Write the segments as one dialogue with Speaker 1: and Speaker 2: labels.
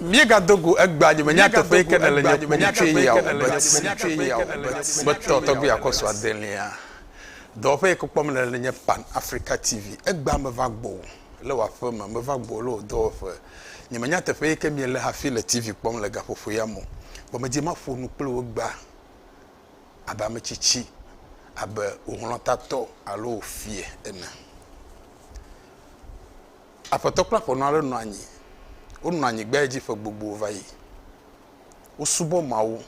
Speaker 1: Míegado go egbea nye menya teƒee ke nèle nye ƒome tsoe ya o, Bert, metɔ tɔgbui akɔsu adelia. Dɔwɔƒe yi ke kpɔm nèle le nye Pan Africa TV. Egbea meva gbɔwò le wò aƒeme, meva gbɔwò le wò dɔwɔƒe. Nye menya teƒe yi ke míele hafi le TV kpɔm le gaƒoƒo ya me o. Vɔ medi be maƒo nu kple wò egbea abe ame tsitsi, abe wò hlɔ̃tatɔ alo wò fia ene. Aƒetɔ kple aƒenɔ aɖe nɔ anyi. Wonɔ anyi gbea dzi ƒe gbogbo va yi. Wosubɔ Mawu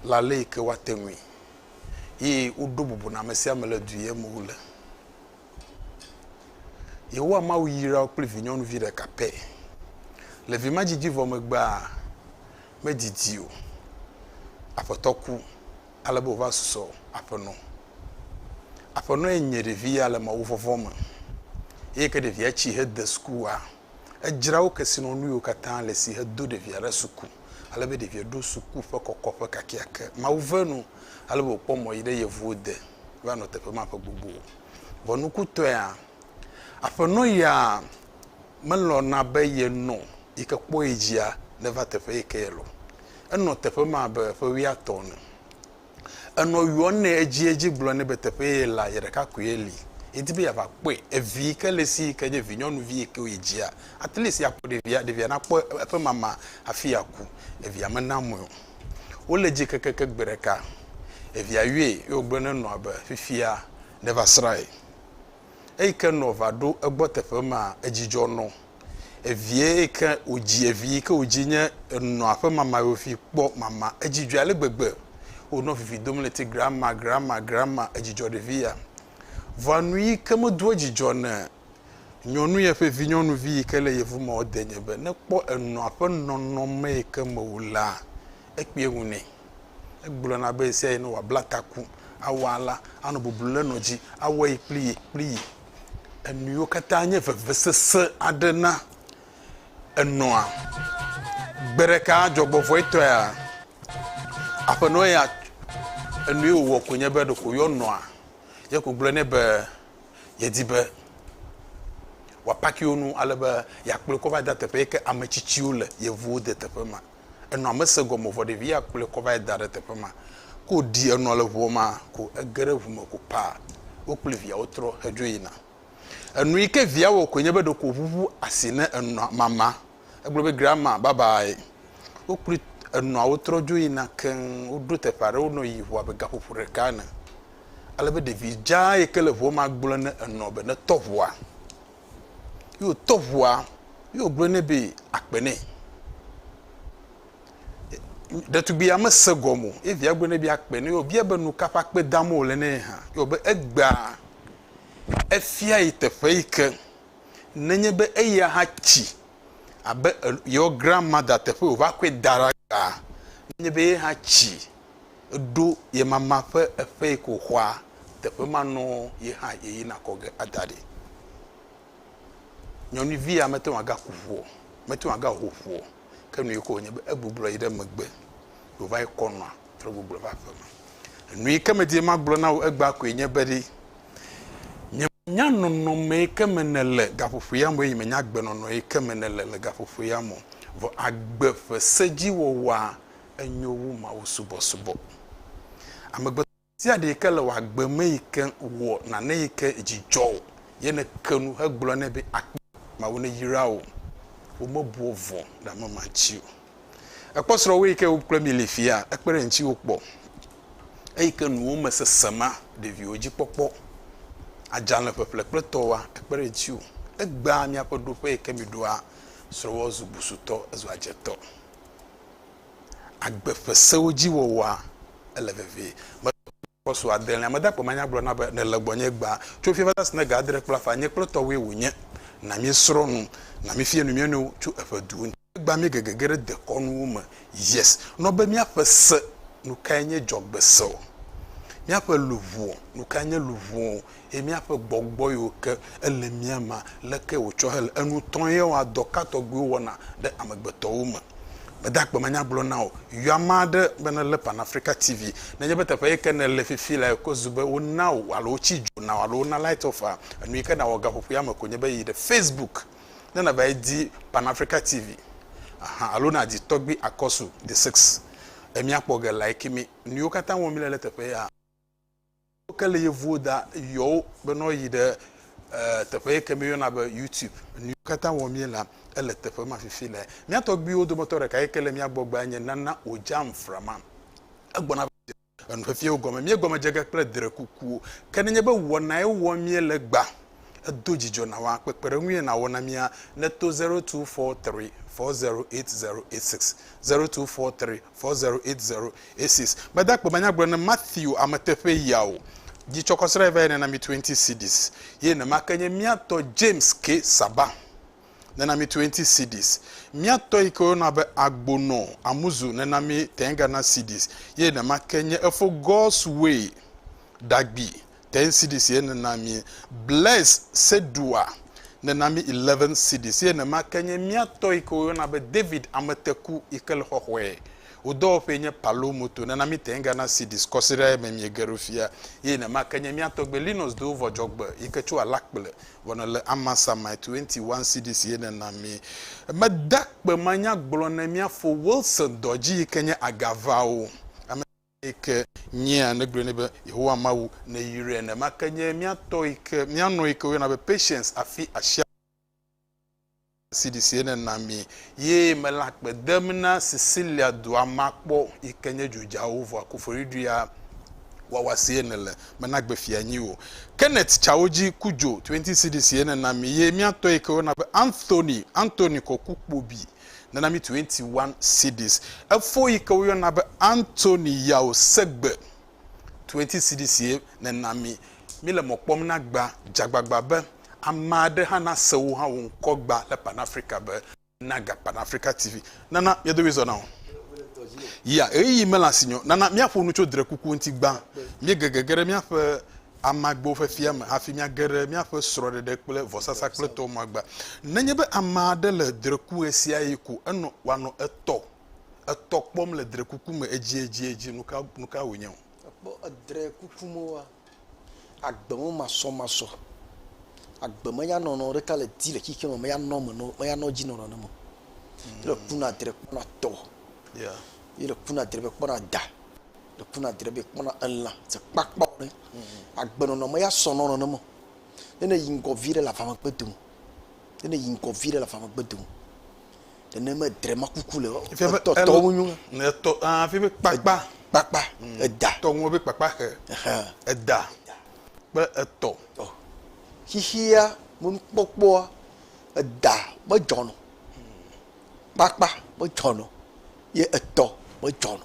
Speaker 1: le ale yi ke woate ŋui eye woɖo bubu na ame sia ame le du yem wole. Yehowa Mawu yra wo kple vinyɔnuvi ɖeka pɛ. Le vi ma dzidzi vɔ megbea, medidi o. Aƒetɔ ku. Ale be wòva susɔ aƒenɔ. Aƒenɔe nye ɖevi ya le mawuvɔvɔ̃ me. Eyi ke ɖevia tsi hede sukua, edzra wo kesinɔnuiwo katã le esi hedo ɖevia ɖe suku, ale be ɖevia ɖo suku ƒe kɔkɔƒe kakeake. Mawu ve nu ale be wòkpɔ mɔ yi ɖe yevuwo de va nɔ teƒe ma ƒe gbogbo. Vɔ nukutɔea, aƒenɔ ya Melɔ̃ na be ye nɔ̃ yi ke kpɔ ye dzia ne va teƒe yi ke ye lɔ̃. Enɔ̃ teƒe ma abe ƒe wuiatɔ̃ ene. Enɔ̃ yɔ̃ nɛ edziedzi gblɔ nɛ be teƒe ye ye la, ye ɖeka koe ye li. Ye di be ya va kpɔe. Evi yi ke le si yi ke nye vinyɔnuvi yi ke ye dzia, at least ya kpɔ ɖevia, ɖevia na kpɔ eƒe mama hafi ya ku. Evia me na mɔe o. Wo le dzi kekeke gbe ɖeka evia yɔe ye wo gblɔ ne nɔ̃a be fifia ne va srã ye. Eyi ke nɔ va ɖo egbɔ teƒe maa, edzidzɔ nɔ. Evie yi ke wòdzi, evi yi ke wòdzi nye enɔa ƒe mama yewovi kpɔ mama. Edzidzɔe ale gbegbe. Wònɔ vivi dom le ti, Grandma, Grandma, Grandma, edzidzɔ ɖevi ya. Vɔa nu yi ke medoa dzidzɔ ne nyɔnu ye ƒe vinyɔnuvi yi ke le yevu mea wode nye be ne kpɔ enɔa ƒe nɔnɔme yi ke me wòlea, ekpea ŋu nɛ. Egblɔna be ɣesiaɣi ne wòabla taku awɔ alea, anɔ bublu ɖe nɔ dzi awɔ yi kpli yi kpli yi. Enuiwo katã nye vevesese aɖe na enɔa. Gbe ɖeka dzɔgbevɔ̃etɔea, aƒenɔ ya enui wòwɔ koe nye be ɖeko yɔ nɔa ye ko gblɔ nɛ be yedi be wòapaki wo nu ale be yeakplɔe kɔ va de teƒe yi ke ame tsitsiwo le, yevuwo de teƒe ma. Enɔa mese gɔme o vɔ ɖevi ya kplɔe kɔ va yi da ɖe teƒe ma. Ke wòɖi enɔ le ŋua mea ko ege ɖe ŋu me ko paa. Wo kple via wotrɔ hedzo yina. Enu yi ke via wɔ koe nye be ɖeko wòʋuʋu asi ne enɔa mama. Egblɔ be, Grandma, bye bye. Wokpli enɔa wotrɔ dzo yina keŋ. Woɖo teƒe aɖe wonɔ yiyi ŋu abe gaƒoƒo ɖeka ene. Ale be ɖevi dzaa yi ke le ŋua mea gblɔ ne enɔ be netɔ ŋua. ye wòtɔ ŋua ye wògblɔ nɛ be akpe nɛ. Ɖetugbia mese gɔme o ye via gblɔ nɛ be akpe nɛ ye wòbia be nu ka ƒe akpe dam wòle nɛ hã ye wòbe egbea efia yi teƒe yi ke nenye be eya hã tsi abe yewo grand mada teƒe wòva kɔe da ɖa gbea nenye be ye hã tsi. Eɖo ye mama ƒe eƒe yi ke wòxɔa, teƒe ma nɔ ye hã yeyina kɔ ge ada ɖi. Nyɔnuvi ya mete ŋu agaku ŋu o, mete ŋu agaho ŋu o, ke nu yi ke wònye be egbublɔ yi ɖe megbe, wòva yi kɔ nɔa trɔ gbublɔ va aƒeme. Enu yi ke medi be magblɔ na wò egbea koe nye be ɖi, nyemenya nɔnɔme yi ke me nèle gaƒoƒo ya me o eye nyemenya agbenɔnɔ yi ke me nèle le gaƒoƒo ya me o, vɔ agbe ƒe sedziwɔwɔa enyo wu mawusubɔsubɔ. Amegbetɔ ɖe sia ɖe yi ke le wò agbe me yi ke wɔ nane yi ke dzi dzɔ wò ye nèke nu hegblɔ nɛ be, Akpe, Mawu neyra wò. Womebua vɔ̃ ɖe ame ma ŋuti o. Èkpɔ srɔ̃wò yi ke wo kple mi li fiaa? Ekpe ɖe ŋutiwò kpɔ? Eyi ke nuwo me sese ma, ɖeviwo dzi kpɔkpɔ, adzalẽ ƒeƒle kple tɔwoa, ekpe ɖe ŋutiwò? Egbea miaƒe ɖoƒe yi ke miɖoa srɔ̃wòa zu busutɔ, ezua dzetɔ. agbe ƒe sewo dzi wɔwɔa, ele vevie. Metsɔ Apostolo adelea mede akpe manya gblɔ na be, Nèle gbɔnye egbea, tso fiẽ va se na ga adre kple afã, nye kple tɔwòe wònye. Na míesrɔ̃ nu. Na míefia nu mía nɔewo tso eƒe duwo ŋuti. Egbea míege gege ɖe dekɔnuwo me. Yes. Nɔ be míaƒe se, nukae nye dzɔgbese? Míaƒe luʋɔ, nukae nye luʋɔ? ye míaƒe gbɔgbɔ yiwo ke ele mía mea, leke wòtsɔ hele enu tɔm ye wɔa dɔ ka tɔgbiwo wɔna ɖe amegbetɔwo me. Gbede agbe me nya gblɔ na wò, yɔ ame aɖe be nelé Pan Africa TV. Nenye be teƒe yi ke nèle fifi lea ekɔ zu be wona wò alo wotsi dzo na wò alo wona light off a, enu yi ke nàwɔ gaƒoƒoea me ko nye be yi ɖe Facebook ne nàvae di Pan Africa TV ahan alo nàdi Tɔgbi Akɔsu the sixth. Emíakpɔ ge like mí. Nu yiwo katã wɔm míele ɖe teƒe ya. Woke le yevuwo da yɔwo be nɔ yi ɖe teƒe yi ke mi yɔna be YouTube. Nuyi katã wɔm mi la, ele teƒe ma fifi le. Mia tɔgbuiwo dometɔ ɖeka yi ke le mia gbɔ gbea nye Nana Ojam Frama. Egbɔna va dze enu xexeawo gɔme. Mi gɔme dze ge kple dre kukuwo. Ke nenye be wɔna ye wɔm mi le egbea, edo dzidzɔ na wa kpekpeɖeŋu ye na wɔ na mia ne to zero two four three four zero eight zero eight six, zero two four three 4080 Aces Meda akpe be nyagblɔ ne Matthew ame teƒee ya o. Dzi tsɔ kɔ srae va yi nena mi 20 cedis. Ye nema ke nye mía tɔ James K. Saba nena mi 20 cedis. Mía tɔ yi ke woyɔna be Agbono Amuzu nena mi 10 Ghana cedis. Ye nema ke nye efo God's Way Dagbi 10 cedis ye nena mi. Blaise Sedoua nena mi 11 cedis ye nema ke nye mía tɔ yi ke woyɔna be David Ameteku yi ke le xɔxɔe. Wò dɔwɔƒee nye Palo Moto nena mi 10 Ghana cedis kɔsiɖa eme miege ɖo fia ye nema ke nye mía tɔgbe Linus Dovɔ Dzɔgbe yi ke tso Alakple vɔ nele Amansamae 21 cedis ye nena mi. Meda kpe manyagblɔ ne mía fo Wilson Dɔdzi yi ke nye Agavawo. Ame. Eyi ke nyea, negblɔe nɛ be, Yehowa Mawu, nèyrae ene. Ma ke nye mía tɔ yi ke mía nɔ yi ke woyɔna be Patience afi asia CD si ye nèna mi ye mele akpe dem na Sicilia dua ma kpɔ yi ke nye dzodzawo vɔ akufoɖiɖia wɔwɔ si ye nèle me na gbe fia nyi o. Kenneth tsawo dzi ku dzo 20 CD si ye nèna mi ye mía tɔ yi ke woyɔna be Anthony, Anthony kɔ ku kpobii. Nana mi twenty one cedis. Efo yi ke woyɔna be Anthony Yao Segbe, twenty cedis ye nena mi. Mi le mɔ kpɔm na gba, dze agbagba be ame aɖe hã nase wò hã wò ŋkɔ gba le Pan Africa be Naga Pan Africa TV. Nana mia domi zɔ na wò. Ya, ɣeyiɣi mele asinye o. Nana miaƒo nu tso drekuku ŋuti gba. Miege gege ɖe miaƒe Amagbewo ƒe fia me hafi míage ɖe míaƒe srɔ̃ɖeɖe kple vɔsasakpletɔ magba. Nenye be ame aɖe le dreku ɣesiaɣi ko enɔ wòanɔ etɔ etɔ kpɔm le drekuku me edziedzi, nuka nuka wònye o? Èkpɔ edrekuku me woa? Agbe me masɔmasɔ, agbe me nyanɔnɔ ɖeka le di le xixe me meyanɔ eme nɔ meyanɔ edzi nɔ nane me o. Ye le kuna dre kpɔna tɔ. Yeah. Ye le kuna dre be kpɔna da. Le ku na dre be kpɔna elã se kpakpa ɖe agbe nɔnɔ me ya sɔ nɔnɔ ne me. Ne ne yi ŋgɔ vi ɖe le avame gbe dome. Ne ne yi ŋgɔ vi ɖe le avame gbe dome. Ne ne me dre ma kuku le tɔ tɔ mu nyu. Ne tɔ a fi be kpakpa. Kpakpa mm. eda. Tɔ ŋu be kpakpa xe. Eda kple etɔ. Xixia mo nu kpɔkpɔa eda me dzɔnɔ. Kpakpa me dzɔnɔ ye etɔ me dzɔnɔ.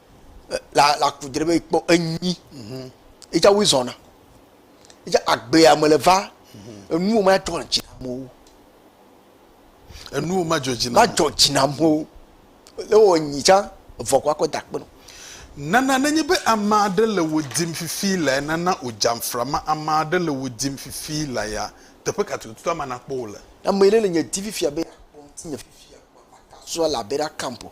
Speaker 1: la ku dre be ekpɔ enyi edza wo zɔna edza agbea me le va enu wo ma dzɔ dzi na amewo enu wo ma dzɔ dzi na ma dzɔ dzi na amewo le wɔ nyi dza vɔ kɔ akɔ da kpɔnɔ nana nenye be ame aɖe le wo dim fifi la nana o dzamfra ma ame aɖe le wo dim fifi la ya teƒe ka tututu ama nakpɔ wo le ame aɖe le nye di fifia be akpɔ ŋuti nye fifia kpɔ akasua la be ɖa kampo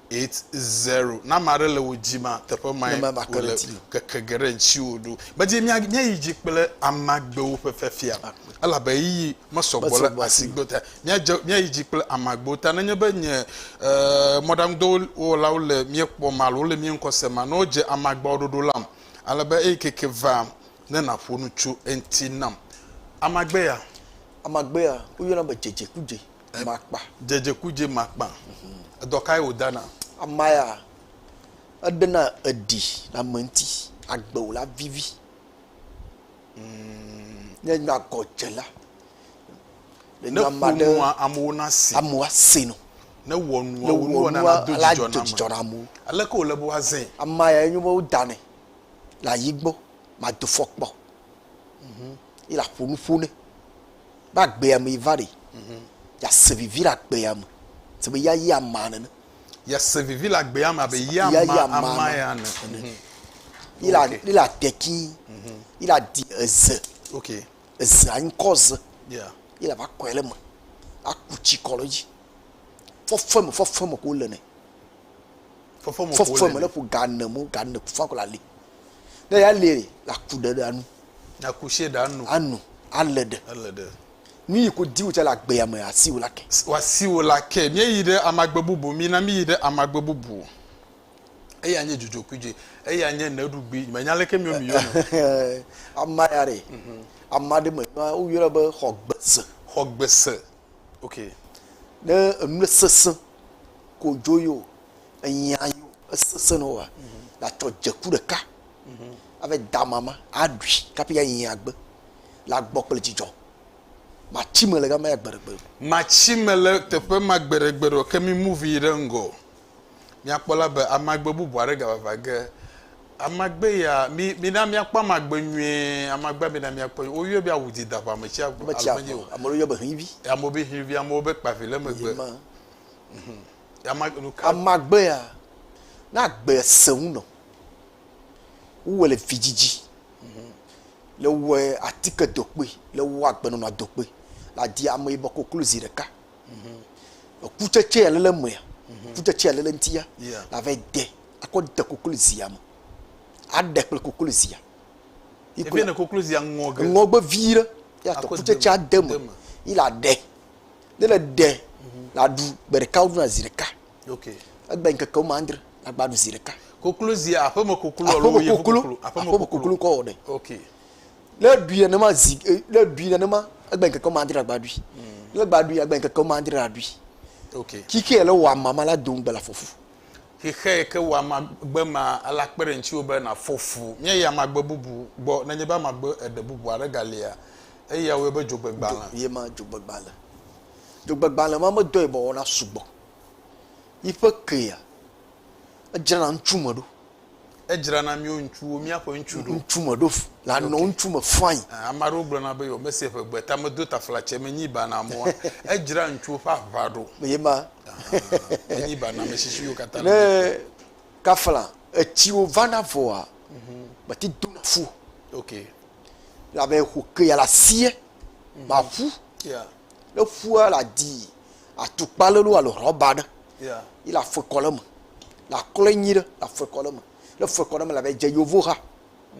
Speaker 1: It's zero. Ne ame aɖe le wò dzi ma, teƒe mae Neme bakere wòle ti. ŋkeke geɖe ŋutiwò ɖo. Medzi mía- míayi dzi kple amagbewo ƒe fiafia, Akpe. elabe ɣeyiɣi mesɔ gbɔ Mesɔ le gbɔ asi asi. gbɔ ta. Míadze- míayi dzi kple amagbewo ta. Nenye be nye eh, mɔɖaŋudɔwɔlawo le mía kpɔm alo wole mía ŋkɔ sem ma, ne wodze amagbeawo ɖoɖo lam, ale be eyi keke va ne nàƒo nu tso eŋuti nam. Amagbe ya. Amagbe ya, woyɔna be dzedzekudze. Makpa. Dzedzekudze makpa. Edɔ kae wòdana? Ama ya, eɖena eɖi le ame ŋuti, agbe wòla vivi. Ne enye agɔdzela, ne ƒo nua amewo nase. Amewo ase nɔ. Ne wɔ nua wònuwɔna nado dzidzɔ na amewo. Aleke wòle be woazãe? Ama yae nye be wodanɛ le ayi gbɔ, mado fɔkpa o. Ye le aƒo nu ƒo nɛ. Be agbea me va ɖi. Yease vivi le agbea me. Se be yea yi amaa nene. Yease vivi le agbea me abe yea yi amaa ya ene. Mhm. Yi la yi la teki. Mhm. Yi la di eze. Ok. Eze anyi kɔ ze. Yeah. Yi la va kɔe le me. Aku tsi kɔ le dzi. Fɔfɔe me fɔfɔe me ko le nɛ. fɔfɔme fɔfɔme ne ƒo ga ne mo ga ne fɔfɔme la li ne ya li la ku ɖe ɖe anu na ku se ɖe anu anu ale ɖe ale ɖe nu yi ko diwo tsa le agbea me asi wo la ke wasi wo la ke mi yi ɖe amagbe bubu mi na mi yi ɖe amagbe bubu eye anye dzodzo kui dzi eye anye ne ɖugbi me nya leke mi mi yo ama ya re mhm. ama de me wo yɔ be xɔgbese xɔgbese Ok, ne enu sesẽ ko dzo yio, enyia yio, esesẽ ne woa, la tsɔ dzeku ɖeka, ave da mama, aɖui, kaƒi ya yi agbe, la gbɔ kple dzidzɔ. Matsi me le gama ya gbeɖegbeɖe. Matsi me le teƒe ma gbeɖegbeɖe, ke mi move yi ɖe ŋgɔ. Míakpɔ la be amagbe bubu aɖe gavava ge. Amagbe ya, mi, mina míakpɔ amagbe nyuie. Amagbea mina míakpɔ nyuie. Woyɔe be awu dida ʋa me tsia ʋu. Alo menye o. Ame aɖewo yɔ be hivi. Amewo be hivi, amewo be kpavi le megbe. Mhm. Ama, nu ka. Amagbe ya, ne agbea sẽ ŋu nɔ, wowɔe le vidzidzi. Mhm. Le wɔe atike dokpui, le wɔ agbenɔnɔ dokpui. Le aɖi ameyibɔ koklo zi ɖeka. Mhm. Kutsetse ale le mea, mhm. kutsetse ale le ŋutia, ava de akɔ de koklozia me, aɖe kple koklozia. Ebe ne koklozia ŋɔ ge. Ŋɔ gbe vi ɖe, ya tɔ kutsetse ade me, yi la ɖe, ne le ɖe, mhm. la ɖu gbe ɖeka wo ɖuna zi ɖeka. Ok. Egbe ŋkeke wɔme andre, la gba ɖu zi ɖeka. Koklozia aƒeme koklo alo yevu koklo? Aƒeme koklo kɔ wɔ ɖe. Ok. Ne ɖui nenema zi eh, ne ɖui nenema egbe ŋkeke wɔme adre agba ɖui. Ne egba ɖui agba ŋkeke wɔme adre aɖui. Okay. Xixe yɛ le wɔ ama ma la do ŋugbe le afɔfu. Xixe yɛ ke wɔ ama gbe ma ala kpe ɖe ŋutsiwò be nàfɔ fu. Míayi amagbe bubu gbɔ nenye be amagbe eɖe bubu aɖe galia. Eya woyɔ be dzogbegbalẽ. Ye ma dzogbegbalẽ. Dzogbegbalẽ ma medɔ yibɔ wɔna sugbɔ. Yiƒe kea edzrana ŋutsu me ɖo. Edzra na míwo ŋutsuwo, míaƒe ŋutsu ɖo. Ŋutsu me ɖo la nɔ okay. ŋutsu me fain. Eh, ame aɖewo gblɔna be yɔ mese ƒe gbe ta medo taflatse menyi ba na amewo. Edzra ŋutsuwo ƒe aʋa ɖo. Ye ma. Menyi ba na ame tsitsiwo katã. Ne kafla etsiwo vana vɔa, mhm. meti dona fu. Okay. Labe xo ke ya la sie, ma ƒu. Yeah. Ne ƒua la di atukpa le nu alo rɔba ɖe. Yi la fue kɔ le me. La klɔe nyi ɖe la fue kɔ le me. Ne fue kɔ le me la be dze yevu ha.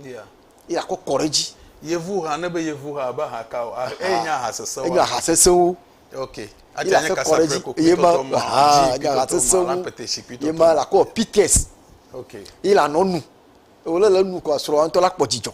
Speaker 1: Yi la kɔ kɔ ɖe dzi. Yevu ha ne be yevu ha be ha ka o. Eye nye aha sesewo. Enye aha sesewo. Ok. Yi la fue kɔ ɖe dzi. Ye ma aha nye aha sesewo. Ye ma la kɔ pites. Ok. Yi la nɔ nu. Ewole le nu kɔ srɔa ŋtɔ la kpɔ dzidzɔ.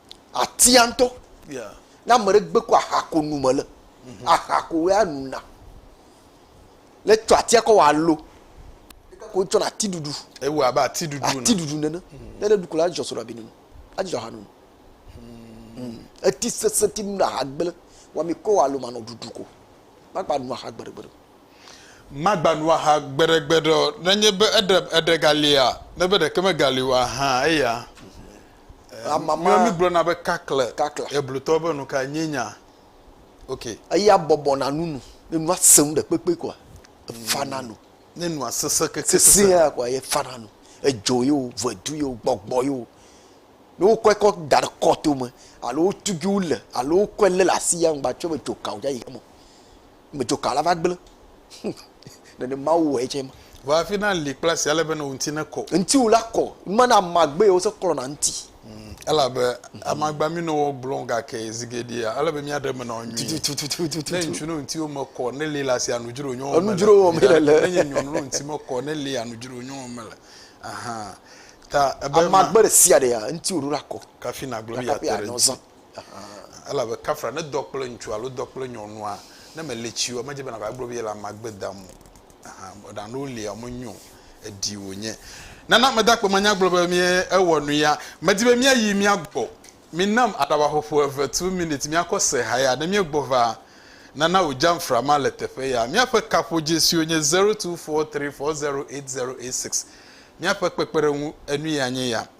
Speaker 1: Atia ŋutɔ. Ne ame ɖe gbe ko aha ko nu mele. Mhm. Aha ko ya nu na. Ne tsɔ atia kɔ wɔ alo. Ko tsɔ na ati ɖuɖu. Ewu abe ati ɖuɖu nene. Ati ɖuɖu nene. Mhm. Ne ɖe ɖu ko la adzɔ so ɖabi nunu. Adzɔ aha nunu. Mhm. Eti sese ti nu na aha gble. Wa mi kɔ wɔ alo manɔ ɖuɖu ko. Magba nu aha gbeɖe gbeɖe. Magba nu aha gbeɖe gbeɖe. Nenye be eɖe eɖe galia, ne be ɖeke megali o aha eya. Amama. Mi gblɔ na be kakla. Kakla. Eblutɔ be nu ka nye nya. Ok. Eya bɔbɔ na nu nu. Ne nua sẽŋ ɖe kpekpe kɔa, efa na nu. Ne nua sese keke sese. Sese ya kɔa, ye fa na nu. Edzo ye o, vedu ye o, gbɔgbɔ ye o. Ne wo kɔe kɔ da ɖe kɔto me, alo wo tugi wo le, alo wo kɔe le le asi ya ŋgba tsɔe be dzoka o ya yi hame o. me dzoka la va gblẽ nene mawu wɔe tsɛ ma va afi na li kple asi ale be ne ŋuti ne kɔ ŋutiwo la kɔ me na amagbe yewo se klɔ na ŋuti hmm, elabe amagba mi no wɔ gblɔ gake zigeɖia ale be mi aɖe me na wo nyui ne ŋutsu no ŋutiwo me kɔ ne li la si anudzro nyɔwo me anudzro me le le ne nye nyɔnu no ŋuti me kɔ ne li anudzro nyɔwo me le ahan ta ebe amagbe ɖe sia ɖe ya ŋutiwo ɖo la kɔ kafi na gblɔ mi ya te ɖe ŋuti Elabe kafra ne dɔ kple ŋutsu alo dɔ kple nyɔnua, ne mele tsi o, medze be nàva gblɔ be yele amea gbe dam o. Ɖa ne wolia o, menyo o, eɖi wònye. Nana mede akpe me anya gblɔ be mi ewɔ nu ya. Medi be míayi mía gbɔ. Minam aɖaba ƒoƒo eve, two minutes, míakɔ se ha ya. Ne míegbɔ va, nana wò jamfra ma le teƒe ya. Míaƒe kaƒodzesiwo nye zero two four three four zero eight zero eight six. Míaƒe kpekpeɖeŋu, Enu ya nye ya.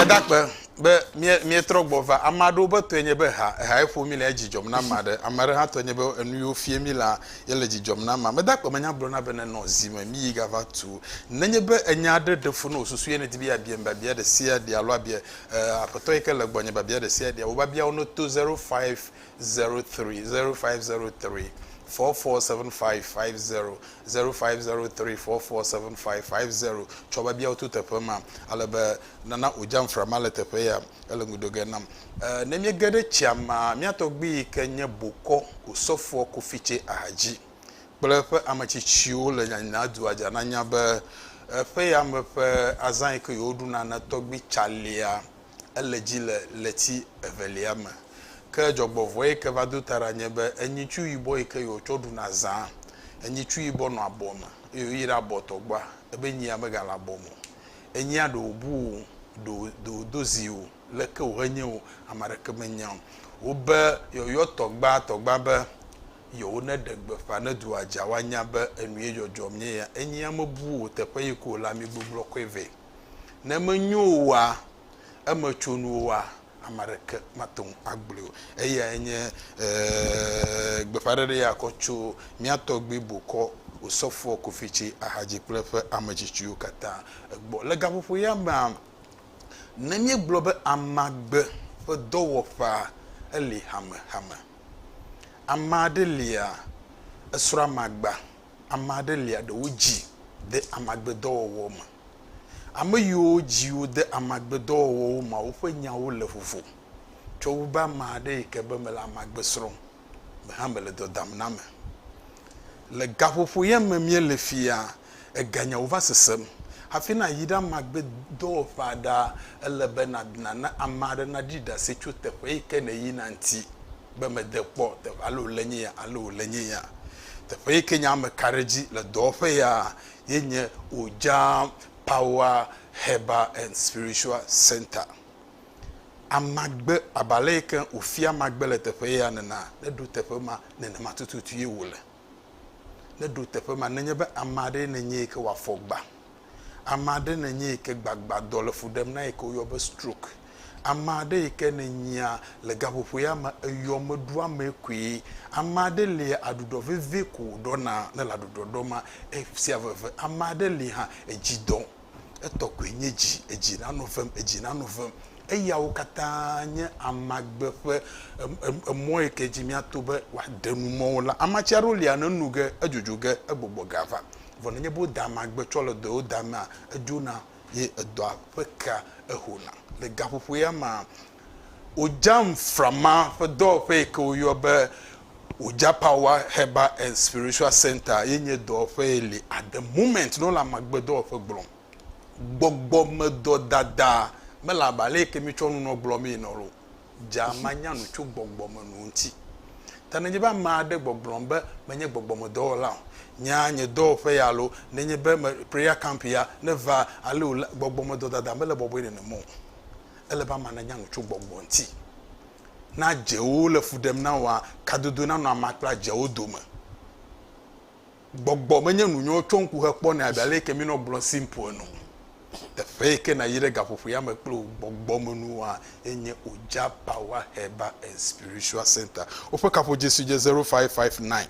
Speaker 1: Edakpe be míetrɔ gbɔ va. Ame aɖewo be tɔe nye be ha, ehae ƒo mí le edzi dzɔm na ame aɖe. Ame aɖe hã tɔe nye be enu yiwo fia mí la ye le dzi dzɔm na amea. Medakpe menya gblɔna bene nɔ zi me míyi gava tu. Nenye be enya aɖe ɖe fu na wò susu ye nèdi be yeabiam biabia ɖe sia ɖe alo abia Aƒetɔ yi ke le gbɔnye biabia ɖe sia ɖea, wò biabiawo neto zero five zero tri zero five zero tri fɔ fɔ seven five five zero zero five zero tri fɔ fɔ seven five five zero tsɔ be biawo to teƒe ma ale be nana odza nfra ma le teƒe ya ele ŋudo ge nam e ne mi ge ɖe tsia ma mia tɔgbi yi ke nye bokɔ osɔfo kofitse ahadzi kple eƒe ametsitsiwo le nyanyina dua dza na nya be eƒe ya me ƒe azã yi ke yewo ɖuna na tɔgbi tsalia ele dzi le ɣleti evelia me. Ke dzɔgbevɔe yi ke va do ta ɖa nye be enyitsu yibɔ yi ke yewotsɔ ɖuna zãa, enyitsu yibɔ nɔ abɔ me eye woyi ɖe abɔ tɔgba, ebe nyia megale abɔ me o. Enyia ɖe wòbu wò o, ɖe ɖe wòdo zi wò o, leke wòhe nye wò, ame aɖeke menya o. Wobe yewoyɔ tɔgba tɔgba be yewoneɖe gbeƒã ne dua dza woanya be enu ye dzɔdzɔm nye ya. Enyia mebu wò teƒe yi ke wòle ami gbegblɔ kɔe vɛ. Ne menyo oa, eme tso nu oa, ame aɖeke mate ŋu agblɔe o. Eyae nye eeeee gbeƒãɖeɖe ya kɔ tso mía tɔgbui bokɔ Osɔfoɔ Kofi Ci Ahadzi kple eƒe ame tsitsiwo katã gbɔ. Le gaƒoƒo ya mea, ne míegblɔ be amagbe ƒe dɔwɔƒea, eli hamehame. Ame aɖe lia, esrɔ̃ amagba ame aɖe lia ɖewo dzi de amagbedɔwɔwɔ me. Ame yiwo dzi wode amagbedɔwɔwɔ me woƒe nyawo le vovo tsɔ wu be ame aɖe yi ke be mele amagbe srɔ̃m me hã mele dɔ dam na ame. Le gaƒoƒo ye me míele fiya, eganyawo va sesem hafi nàyi ɖe amagbedɔwɔƒea ɖaa, ele be nana ame aɖe naɖi ɖase tso teƒe yi ke nèyina ŋuti. be mede kpɔ teƒe alo wòle nye ya alo wòle nye ya. Teƒe yi ke nye ame ka ɖe edzi le dɔwɔƒe ya ye nye Ojaan Pawa Hɛba ɛnd Spiritsua Sɛnta. Amagbe abe ale yi ke wòfia amagbe le teƒe ya nena, neɖo teƒe ma nenema tututu ye wòle. Ne ɖo teƒe ma nenye be ame aɖee nènye yi ke wòafɔ gba, ame aɖe nènye yi ke gbagbadɔ le fu ɖem na yi ke woyɔ be stroke, ame aɖe yi ke nènyia le gaƒoƒo ya me eyɔ meɖo amee koe, ame aɖe lia aɖuɖɔ vevie ko wòɖɔna ne le aɖuɖɔ ɖɔm ma esia veve, ame aɖe li hã edzi dɔm. etɔ koe nye dzi, edzi nanɔ vem, edzi nanɔ vem. Eyawo katã nye amagbe ƒe emɔ yi ke dzi míato be woaɖe nu mɔ wo la. Amatsi aɖewo lia ne enu ge, edzodzoe ge, egbɔgbɔ ge ava. Vɔ nenye be woda amagbe tsɔ le dɔ yewo damea, edzona ye edɔa ƒe kea ehona. Le gaƒoƒo ya mea, Wòdza Nframa ƒe dɔwɔƒe yi ke woyɔa be Wòdza Power Herbal and Spiritual Center ye nye dɔwɔƒe ye li at the moment ne wole amagbedɔwɔƒe gblɔm. Gbɔgbɔmedɔ dada mele abe ale yi ke míetsɔ nunɔ gblɔ mee ene o. Dza manya nu tso gbɔgbɔmenuwo ŋuti. Ta nenye be ame aɖe gbɔgblɔm be menye gbɔgbɔmedɔwɔla o, nya nye dɔwɔƒe ya alo nenye be me prayer camp ya neva ale wòle, gbɔgbɔmedɔ dada mele bɔbɔe nenem o. Ele be amea nanya nu tso gbɔgbɔ ŋuti. Ne adzewo le fu ɖem na woa, kadodo nanɔ amea kple adzeawo dome. Gbɔgbɔ menye nu nyɔ tsɔ ŋku hekpɔnɛ abe ale yike minɔ gblɔ simple ene o. Teƒe yike nayi ɖe gaƒoƒo ya me kple wò gbɔgbɔ me nua enye Oja Power Herbal and Spiritual Center. Woƒe kaƒodzesi dze 0559.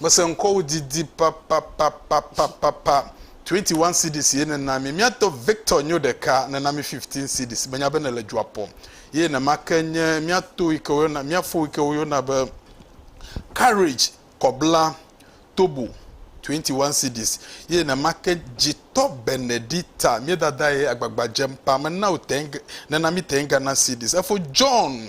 Speaker 1: Mese ŋkɔwò didi papapapapapapa. Twenty one cedis ye nèna mí. Míatɔ Victor nyo ɖeka, nèna mí fifteen cedis. Menya be nèle dua ƒɔm. Ye nema ke nye mía to yi ke woyɔna, mía fo yi ke woyɔna be Courage kɔbla Tobo, twenty one cedis. Ye nema ke dzitɔ Benedita, mía dada ye agbagba dzem paa. Mena wò ten, nèna mí ten Ghana cedis. Efo John.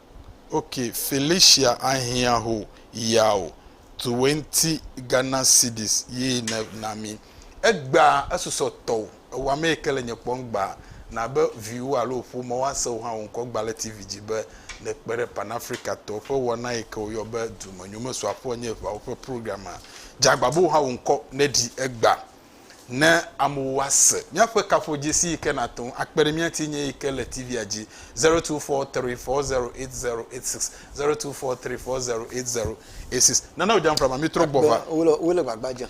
Speaker 1: Ok Felicia ahiã ho yao tuwenti Ghana cedis ye ne nami egba esusɔ tɔo ewa mee ke le nye kpɔm gba na be viwo alo ƒome wa se wo hã wo ŋkɔ gba le TV dzi be ne kpe ɖe pan Africa tɔo ƒe wɔna yi ke wo yɔ be dume nyomesɔ aƒɔ nye ʋawo ƒe program a dza gba be wo hã wo ŋkɔ ne ɖi egba ne amewo wa se míaƒe kafuodzesi yi ke nate ŋu akpe ɖe mía ŋuti nye yi ke le TV-a dzi zero two four three four zero eight zero eight six zero two four three four zero eight zero eight six nana wòdze amframa mi trɔ gbɔ va. Wole wole gbagba dzem.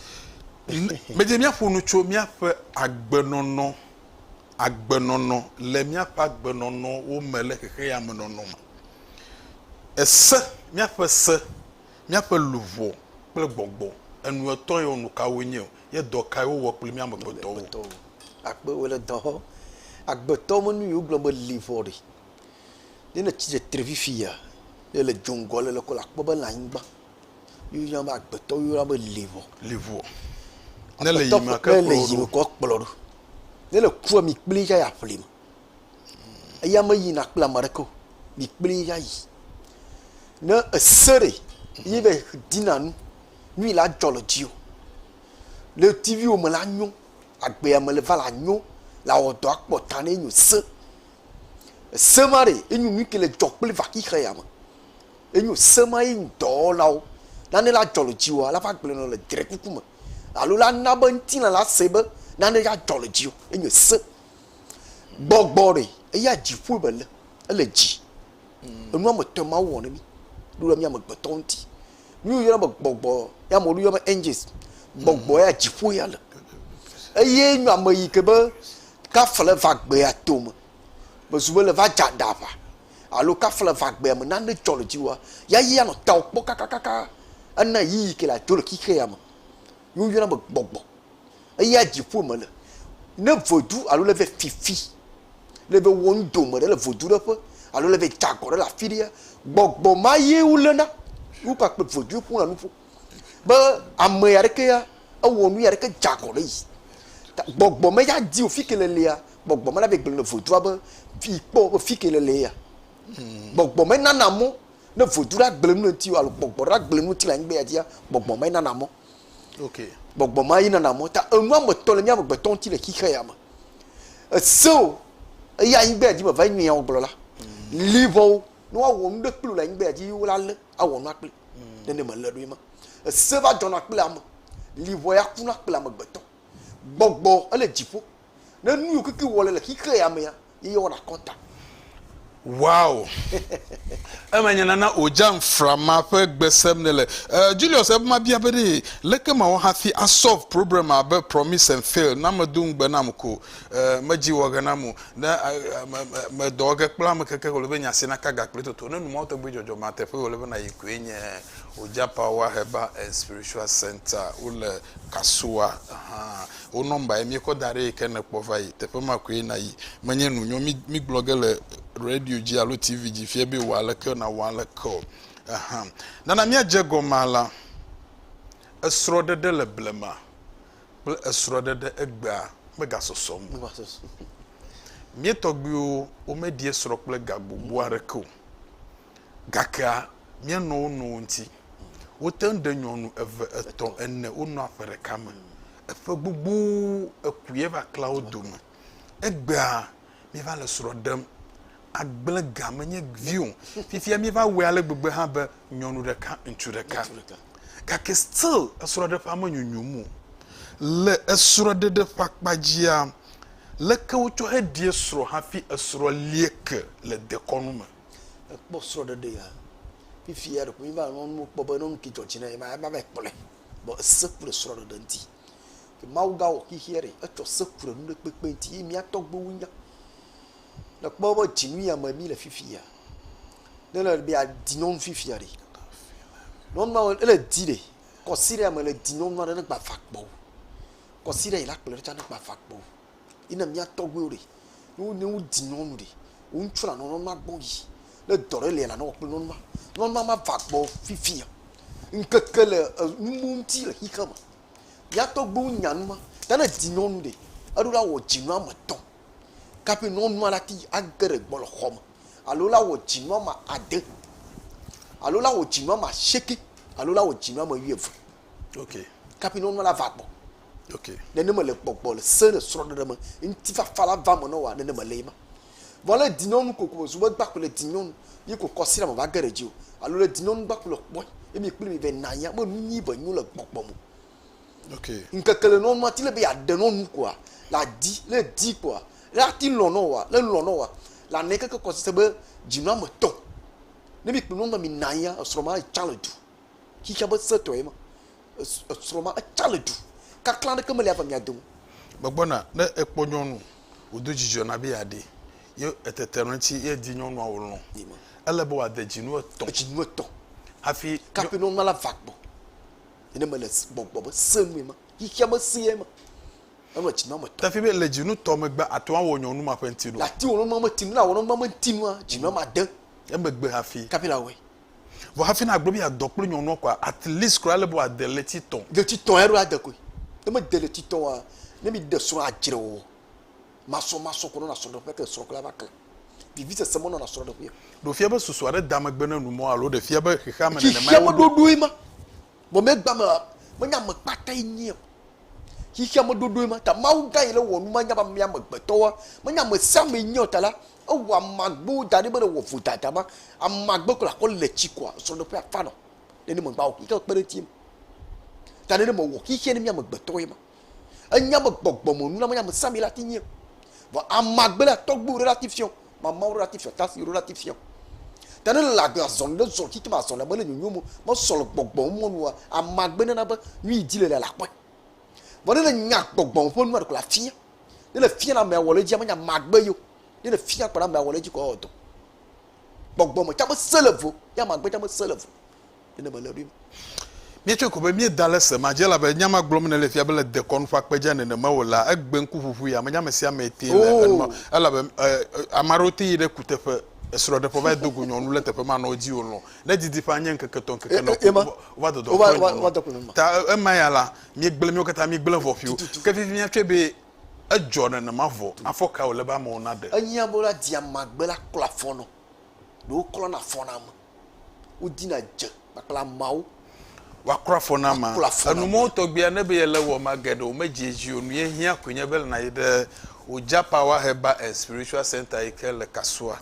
Speaker 1: Medze míaƒo nu tso míaƒe agbenɔnɔ agbenɔnɔ le míaƒe agbenɔnɔwo me le xexeame nɔnɔ me. Ese míaƒe se Míaƒe luʋɔ kple gbɔgbɔ enuetɔ̃ yewo nu kawoe nye, ye dɔ kae wowɔ kpli mí amegbetɔwo? Akpe wo le dɔhɔ. Agbetɔ me nu yi wogblɔ be li vɔ ɖi. Ne le tsi tsitre fifia, ne le dzo ŋgɔ le lekɔ la kpɔ be le anyigba yi woyɔna be agbetɔ yi woyɔna be li vɔ. Li vɔ. Ne le yiyim ake kplɔ ɖo. Kɔ kplɔ ɖo. Ne le kua mi kpli ya ya ƒli me. Eya meyina kple ame aɖeke o. Mikplii ayi. Ne èse ɖe ye be dina nu, nu yi la dzɔ le dziwò. Le TV-wo me la nyo, le agbea me le va la nyo, le awɔ dɔ akpɔ ta ne enyo se. Ese ma ɖe enyo nu ke le dzɔ kple vaxixe ya me. Enyo se ma ye dɔwɔlawo. Nane la dzɔ le dziwòa, la va gblẽ nɔ le drekuku me. Alo la na be ŋutilã la se be nane ya dzɔ le dziwò. Enyo se. Gbɔgbɔ ɖe, eya dziƒoe me le, ele dzi. Mm. Enu ame etɔ̃ ma wɔ ne mi. Ɖo ɖe mi amegbetɔ ŋuti. Mi wo yɔna be gbɔgbɔ, ya ame wo yɔ be angels. Mm. Gbɔgbɔ ya dziƒoe ya le. Eye nyo ame yi ke be kafle va gbea tome. Me zu be le va dza da va. Alo kafle va gbea me nane dzɔ le dzi wa. Ya yi anɔ tao kpɔ kakakaka. Ena yi yi ke la dzo le xixe ya me. Ye woyɔna be gbɔgbɔ. Eya dziƒo me le. Ne vedu alo le ve fifi, le ve wɔ nu dome ɖe le vedu ɖe ƒe alo le ve da gɔ ɖe le afi ɖea, gbɔgbɔ ma ye woléna. Ye wokpakple vedu ƒona nuƒo be ame ya ɖeke ya ewɔ nu ya ɖeke da gɔ ɖe yi ta. Gbɔgbɔ me ya di wò fi ke le lea, gbɔgbɔ me la ve gblɔ na vedua be, vi kpɔ be fi ke le le ya. Gbɔgbɔ me nana mɔ Ne vodu ɖe agble nu le ŋuti alo gbɔgbɔ ɖe agble nu ŋuti le anyigba ya dzia, gbɔgbɔ ma ye nana mɔ. Ok. Gbɔgbɔ ma ye nana mɔ. Ta enu ametɔ le mía amegbetɔ ŋuti le xixe ya me. Ese o, eye anyigba ya dzi me va yi nyawo gblɔ la, mm. libɔwo, ne woawɔ nu ɖe kpli le anyigba ya dzi, wo la lé, awɔ nua kpli. Mm. Nene me lé ɖoe ma. Ese va dzɔna kple ame, libɔ ya kuna kple amegbetɔ. Gbɔgbɔ ele dziƒo, Ne nu yiwo keke wòwɔ le le xexea ya mea, ye yewɔna akɔnta. Wow! Eme nye nana o, Jan Frama ƒe gbe sem nèle. Eh, Julius, ebe mabia be ɖee, leke mawɔ hafi a solve problema be promise and fail na medo ŋugbe nam ko? Eh, medzi wɔ ge nam o. Ne a, a, me, me, me dɔ ge kple ame keke wòle be nya si naka ga kple toto. Ne nu mawo tɔgbi dzɔdzɔ mea, teƒe wòle be nàyi koe nye Ojapawwa Herbal and Spiritual Centre. Wole Kasoa. Ahan. Wò nɔmbae míekɔ da ɖee ke nèkpɔ va yi. Teƒe ma koe nàyi. Menye nu nyɔ mígblɔ ge le radio dzi alo TV dzi fia be wɔ aleke nàwɔ aleke o. Ehã. Nana míadze egɔmea la. Esrɔ̃ɖeɖe le blema kple esrɔ̃ɖeɖe egbea megasɔsɔ ŋu o. Mía tɔgbuiwo womeɖi esrɔ̃ kple ga gbogbo aɖeke o. Gakea, míenɔ wo nɔewo ŋuti. Wote ŋu ɖe nyɔnu eve, etɔ̃, ene wonɔa ƒe ɖeka me. Eƒe gbogbo ekue va klea wo dome. Egbea míeva le srɔ̃ ɖem. Agble ga menye vi o. Fifia míeva wɔe ale gbegbe hã be nyɔnu ɖeka, ŋutsu ɖeka. Gake still esrɔ̃ɖeƒea menyonyom o. Le esrɔ̃ɖeɖe ƒe akpa dzia, leke wotsɔ heɖie srɔ̃ hafi esrɔ̃ lie ke le dekɔnu me? ekpɔ srɔ̃ɖeɖe ya fifi ya ɖeko míva nɔ nuwo kpɔ be ne nu ke dzɔ dzi na ye ma eva va yi kpɔe vɔ ese ku le srɔ̃ɖeɖe ŋuti. Ke Mawu gawɔ xexeɛ ɖe etsɔ se ku le nuɖekpekpe ŋuti ye mía tɔgbuiwo nya. Ne èkpɔ eƒe dzinu ya me míle fifi ya ne ele be yeadi nyɔnu fifi ya ɖe nyɔnua ele di ɖe kɔsiɖa me le di nyɔnua ɖe ne gbava kpɔ o. Kɔsiɖa yi la kplɔe ɖo tsã ne gbava kpɔ o. Yi ne mía tɔgbuiwo ɖe, ne wo ne wodi nyɔnu ɖe, wo ŋutsu nanɔ nyɔnu ma gbɔ yi. Ne dɔ ɖe lia, nanɔ wɔ kple nyɔnu ma. Nyɔnu ma mava gbɔ fifia. Ŋkeke le enu mɔ ŋuti le xexea me. Mía tɔgbuiwo nya nu ma. Ta ne edi nyɔnu ɖe, eɖo la wɔ dzinu ame etɔ̃ kaƒi nyɔnua la te age ɖe gbɔ le xɔme. Alo la wɔ dzinu ame ade. Alo la wɔ dzinu ame asieke. Alo la wɔ dzinu ame wuieve. Ok. Kaƒi nyɔnua la va gbɔ. Okay. Nenema le gbɔgbɔ le se le srɔɖeɖe me ŋtifafa la va me nɔ wa nenema le yi ma. Vɔ le dinyɔnu koko me zube gba ko le dinyɔnu yi ko kɔsira me va ge ɖe dzi o alo le dinyɔnu gba ko le kpɔe ye mi kpli mi vɛ na ya me nu nyi ve nyu le gbɔgbɔ mo. Okay. Ŋkeke le nɔnu ati le be ya de nɔnu koa la di le di koa la ti lɔ nɔ wa le lɔ nɔ wa la ne keke kɔsi se be dinu ame tɔ. Ne mi kpli nɔnu mi na ya esrɔ ma tsa le du. Xixia be setɔ ye ma. esrɔ̃ ma etsa le du, kaklã aɖeke meli ava mia dome. Megbɔna ne ekpɔ nyɔnu wòdo dzidzɔ na be yeaɖee, ye etete ɖe eŋuti ye edi nyɔnua wòlɔ̃. Ele be wòade dzinu etɔ̃. Edzinu etɔ̃. Hafi. Kafi nyɔnua la va gbɔ. Nene mele gbɔgbɔ be sẽ nue ma, xexea me sẽe ma. Enɔ edzinu ame etɔ̃. Tafi be le dzinu tɔ megbe ate ŋu awɔ nyɔnu ma ƒe ŋutinu. Yeate ŋu awɔ nyɔnua me ŋutinu. Ne awɔ nyɔnua me ŋutinu la, dzinu ame ade. Emegbe hafi. Kafi la wɔe. Vɔ hafi na gblɔ be ya dɔ kple nyɔnua kɔa at least kura le be wa de le ti tɔn. Le ti tɔn ya ɖo ade koe. Ne me de le ti tɔn wa ne mi de srɔn adzre wɔ. Masɔ masɔ kɔ nɔ na srɔn ɖe ƒe ke srɔn kple ava ke. Vivi sese me nɔ na srɔn ɖe ƒe. Ɖo fia be susu aɖe da megbe ne nu mɔ alo ɖe fia be xexea me nene ma ye wo. Xexea me ɖoɖoe ma. Gɔmegba me la, menye ame kpatae nye o. Xexea me ɖoɖoe ma ta Mawu gã yi le wɔ numanya be ame amegbetɔwoa, menye amesiame nye o ta la, ewɔ ame agbewo da ɖi be ne wɔ vodada ma, ame agbe kola kɔ le tsi kɔa, srɔ̃ɖeƒe afa nɔ. Nenema ŋgba wɔ xexea kpe ɖe eŋuti o. Ta nenema wɔ xexea ne mí amegbetɔwoe ma. Enya be gbɔgbɔ me nuname nye ame sami la ti nyie. Vɔ amagbe la tɔgbu ɖe la ti fiɔ, mamawo ɖe la ti fiɔ, tafi ɖe la ti fiɔ. Ta ne le agbe azɔn ɖe zɔn kike ma azɔn la mele nyonyo mo, me sɔ le gbɔgbɔ mo nua, amagbe nana be nyui di le la la kpɔe. Vɔ ne le nya gbɔgbɔ me ƒe nua ɖeko la fiɔ, ne le fiɔ la ame awɔ le dzi ame nya magbe yo, ne le fiɔ kpɔ la ame awɔ le dzi kɔ awɔ dɔ. Gbɔgbɔ me tsa me se le vo, ya magbe tsa me se le vo. Ye ne mele ɖoim. Míetsɔe ko be míeda le se ma dzi, elabe nya ma gblɔm nèle fia be le dekɔnu ƒe akpe dzia, nenema wòlea, egbe ŋkuʋuʋui ame nye ame sia ame tee le enɔ, elabe ame aɖewo te yi ɖe kuteƒe, esrɔ̃ɖeƒe va yi do go nyɔnu le teƒe manɔ dzi wòlɔ̃, ne didiƒea nye ŋkeke etɔ̃ ŋkeke nɔ ko wova dɔdɔ kpɔ nyɔnua me. Ta ema ya la, míegblẽ, míwo katã míegblẽ vɔ ƒio. Ke fifi míatsɔe be edzɔ nenema vɔ, afɔ kae wòle be amewo naɖe? Enye amewo la dia magbe la klɔa afɔ nɔ, ɖewo klɔna afɔ na ame. wodina dze kpakple ameawo. Woaklɔ afɔ na amea. Enumɔwo tɔgbi ane be yele wɔ ma geɖe o medzi edzi o. Nuye hiã koe nye be ele na yi ɖe Oja Power Herbal and Spiritual Center yi ke le Kasoa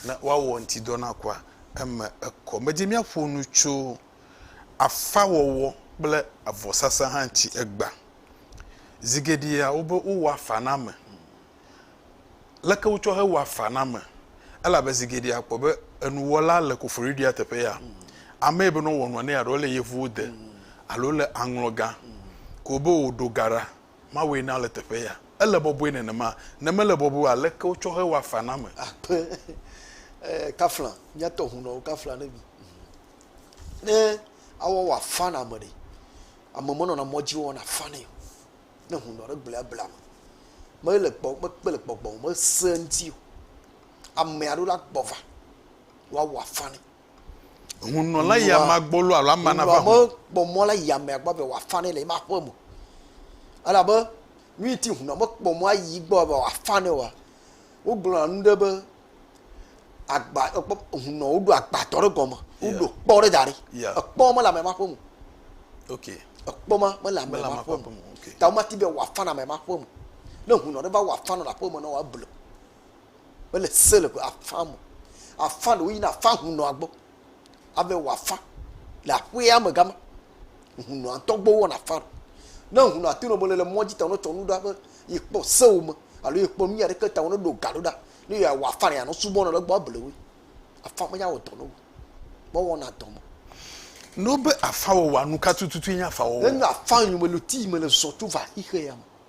Speaker 1: ne woawɔ ŋutidɔ na kua eme ekɔ. Medie míaƒo nu tso afa wɔwɔ kple avɔsasa hã ŋuti egbea. Zi geɖea wobe wowɔ afa na ame. leke wotsɔ hewɔa afa na ame elabe zi geɖe akpɔ be enuwɔla le koforiɖia teƒe ya amee bene wowɔ nua nɛ alo ele yevuwo de alo le aŋlɔ gã ko be wòɖo ga ɖa Mawue na le teƒe ya. Ele bɔbɔe nenema? Ne mele bɔbɔe o aleke wotsɔ hewɔa afa na ame? Akpe eh, kafla, mía tɔ hunɔwo kafla ne mi. Ne awɔ wɔ afa na ame ɖe, ame menɔna mɔdzi wɔna afa nɛ o. Ne ŋu nɔ ɖe gblea bla me. Mele gbɔ mekpe le gbɔgbɔ me se ŋuti o. Ame aɖewo la gbɔ va woawɔ afã ne. Hunɔ la yi amea gbɔ lo alo amea nava hu. Kpɔ mɔ la yi amea gbɔ be wòafã ne le eƒe aƒe me. Elabe nu yi ti hunɔ mekpɔ mɔ ayi gbɔ be wòafã ne oa, wogblɔna nu ɖe be agba ekpɔ hunɔ woɖo agbadɔ ɖe gɔme woɖo kpɔ ɖe da ɖi ekpɔ mele ame ma ƒe mu ekpɔ ma mele ame ma ƒe mu ta woma ti be wòafa na ame ma ƒe mu ne hunɔ ɖe va wɔ afa nɔ le aƒe me na wòable mele se le afa me afa ɖewo yina afa hunɔa gbɔ. ave wɔ afã le aƒea me gama. Hunɔa ŋutɔ gbɔ wɔna afã. Ne hunɔa to nɔmele le mɔdzi ta wonetsɔ nu ɖa be yekpɔ sewo me alo yekpɔ nu aɖeke ta woneɖo ga ɖo ɖa ne yeawɔ afã ne yeanɔ subɔ nɔ le gbɔ able woe. Afã me yawɔ dɔ ne wo. Gbɔ wɔna dɔ me. Ne wobe afã wɔwɔa nu ka tututue nye afã wɔwɔ? Enye afã yome le ti yi mele zɔ tso va xexea me.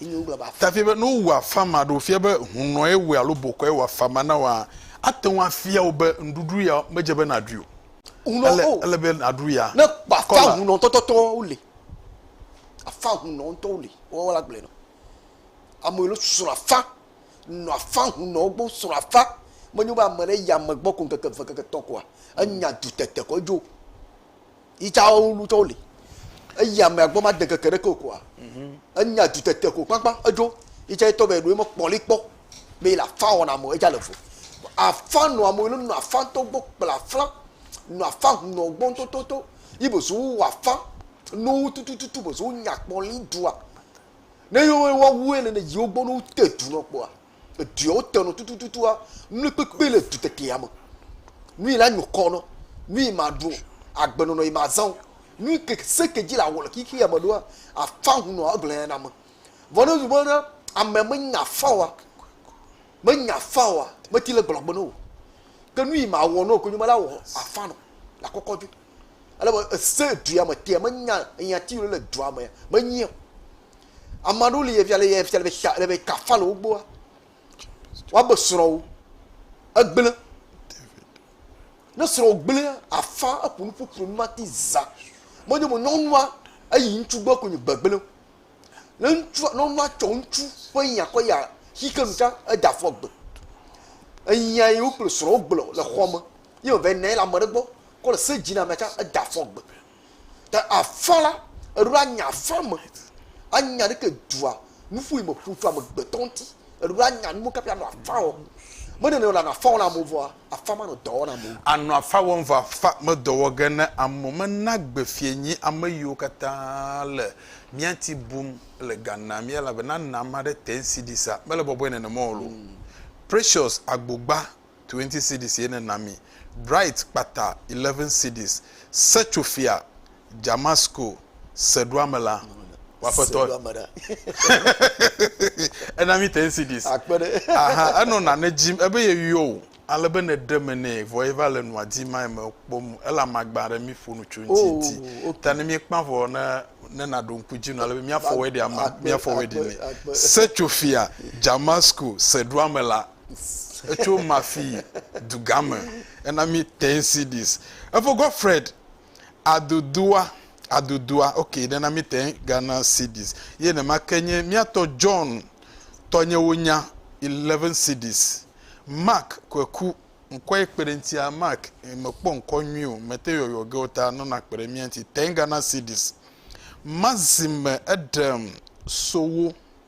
Speaker 1: Efia be ne wowu afama aɖe wofia be hunɔe wòe alo bokɔe wɔ afama na wòa, ate ŋu afia wò be nuɖuɖu ya medze be nàɖui o. Ele be nàɖu ya. Ne kpafã hunɔ ŋutɔtɔtɔwo li. Afã hunɔ ŋutɔwo li. Woawo la gblɔe nɔ. Ame yiwo srɔ̃ afã, nɔ afã hunɔwo gbɔ, srɔ̃ afã. Menye be ame ɖe yi ame gbɔ ko ŋkeke eve, ŋkeke etɔ̃ koa, enya dutete ko edzo. yi tsa wo nu tsɔwo li eyi ame agbɔ ma de keke ɖe ke okoa mhm. enya du tete ko kpakpa edzo yi tsa etɔ bɛ ɖo eme kpɔli kpɔ bɛ la fa wɔna mɔ edza le vo afa nɔ amewo nɔ afa tɔ gbɔ kpla afla nɔ afa nɔ gbɔ tototo yi bozo wɔ afa nɔ tutututu bozo nya kpɔli dua ne yewo wa wu ene ne yiwo gbɔ no te du nɔ kpɔa Edɔewo te nɔ tutututua. Nui kpekpe le dutetea me. Nui la nyo kɔ nɔ. Nui ma ɖo agbe nɔnɔ yi ma zãwo. Nui ke se ke dzi la wɔ le xixia me ɖoa afã hunɔ agblea na me. Vɔ ne nui bena ame me nya afã oa, me nya afã oa, me ti le gblɔ agbe nɔ o. Ke nui ma wɔ nɔ konyo me la wɔ afã nɔ la kɔkɔ dui. Ele be ese dua me tea me nya eya ti yio le dua me me nyia. Ame aɖewo li efia le efia le xa le kafa le wo gbɔa. Woabe srɔ̃wo egblẽ. Ne srɔ̃ gblẽa afa eƒo nu ƒuƒlu nu mati za. Menye be nyɔnua eyi ŋutsu gbɔ ko nye gbegblẽ. Ne ŋutsua nyɔnua tsɔ ŋutsu ƒe nya kɔ ya xi ke nu tsã ede afɔ gbe. Enya yi wo kple srɔ̃wo gblɔ le xɔa me ye wòva yi nɔ anyi le ame aɖe gbɔ kɔ le se dzi na amea tsã ede afɔ gbe. Ta afã la, eɖo la nya afã me. Anya ɖe ke dua nuƒo yi me ƒo tso amegbetɔ ŋuti. Eɖo la nya nuwo kaƒi anɔ afã wɔ. Me nene wòle anɔ afã wɔ na amewo vɔa, afã manɔ dɔ wɔ na amewo. Anɔ afã wɔm vɔ afã medɔ wɔ ge ne amewo mena gbe fiae nyi ame yiwo katã le mía ŋuti bum le ga nam ye elabe nana ame aɖe te ŋsi ɖi sa. Mele bɔbɔe nenema o loo. Precious Agbogba twenty cedis ye nena mi, Bright kpata eleven cedis, Setsofia, Damasko, Seɖoame la, wò aƒetɔ Seɖoame la. ena mi ten cedis. Akpe ɖe. Aha, enɔ nane dzim, ebe yeyɔ wò, ale be nèɖe me nɛ, vɔ yeva le nua dim mae mekpɔ nu, ela magba ɖe míƒo nu tso eŋuti Oh, di. ok. Ta ne míekpã vɔ ne, ne nàɖo ŋku edzi nɔ, ale be míafɔ wedding ama, Akpe, míafɔ wedding akpe, nɛ. akpe. Setsofia, Damasko, Seɖoame la. Etso Mafi dugã me hena mí ten CDs. Eƒe Godfred Adodua, Adodua, ok, nena mí ten Ghana cedis. Ye nema ke nye mía tɔ John Tɔnyewonya, 11 cedis. Mark Kweku, ŋkɔ ye kpe ɖe ŋutia, Mark, mekpɔ ŋkɔ nyui o, mete yɔyɔ ge o ta nɔna kpe ɖe mía ŋuti, ten Ghana cedis. Maxime Eɖem Sowo.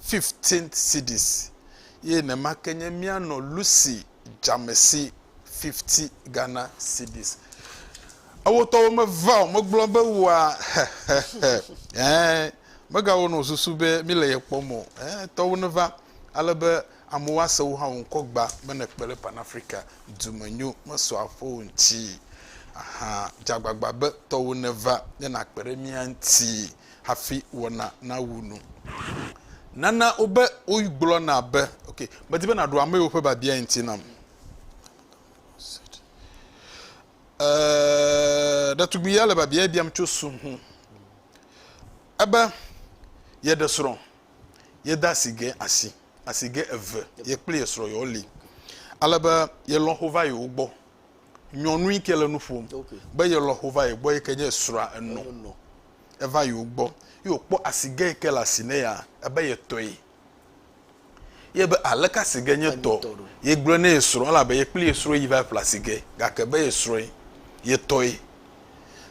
Speaker 1: fifteen cedis eye nema ke nye míanɔ Lucy dzamesi fifty Ghana cedis. Ewotɔwo meva o, megblɔ be woa hehehe ɛɛ megawɔ nɔ susu be míle ye kpɔm o ɛɛ tɔwo neva ale be amewo ase wò hã wò ŋkɔ gba be nèkpe ɖe Pan Afrika dumenyo mesɔ aƒewo ŋuti. Ahan, dze agbagba be tɔwo neva ne nàkpe ɖe mía ŋuti. hafi wɔna nawu nu. Nana wobe wogblɔna be, Ok, medi be nàɖo amewo ƒe biabiae ŋuti nam. Eee, ɖetugbui ya le biabiae biam tso su ŋu. Ebe yeɖe srɔ̃, yede asi ge asi, asi ge eve, ye kple ye srɔ̃ yewo li. Ale be ye lɔ̃xo va yewo gbɔ. Nyɔnui ke le nu ƒom be ye lɔ̃xo va ye gbɔ yi ke nye srɔ̃a enɔ. eva yewo gbɔ ye wòkpɔ asigɛ yi ke le asi nɛ ya ebe ye tɔe. Ye be aleke asigɛ nye tɔ? Ye gblɔe ne ye srɔ̃ elabe ye kple ye srɔ̃ yi va ƒle asigɛ gake be ye srɔ̃e ye tɔe.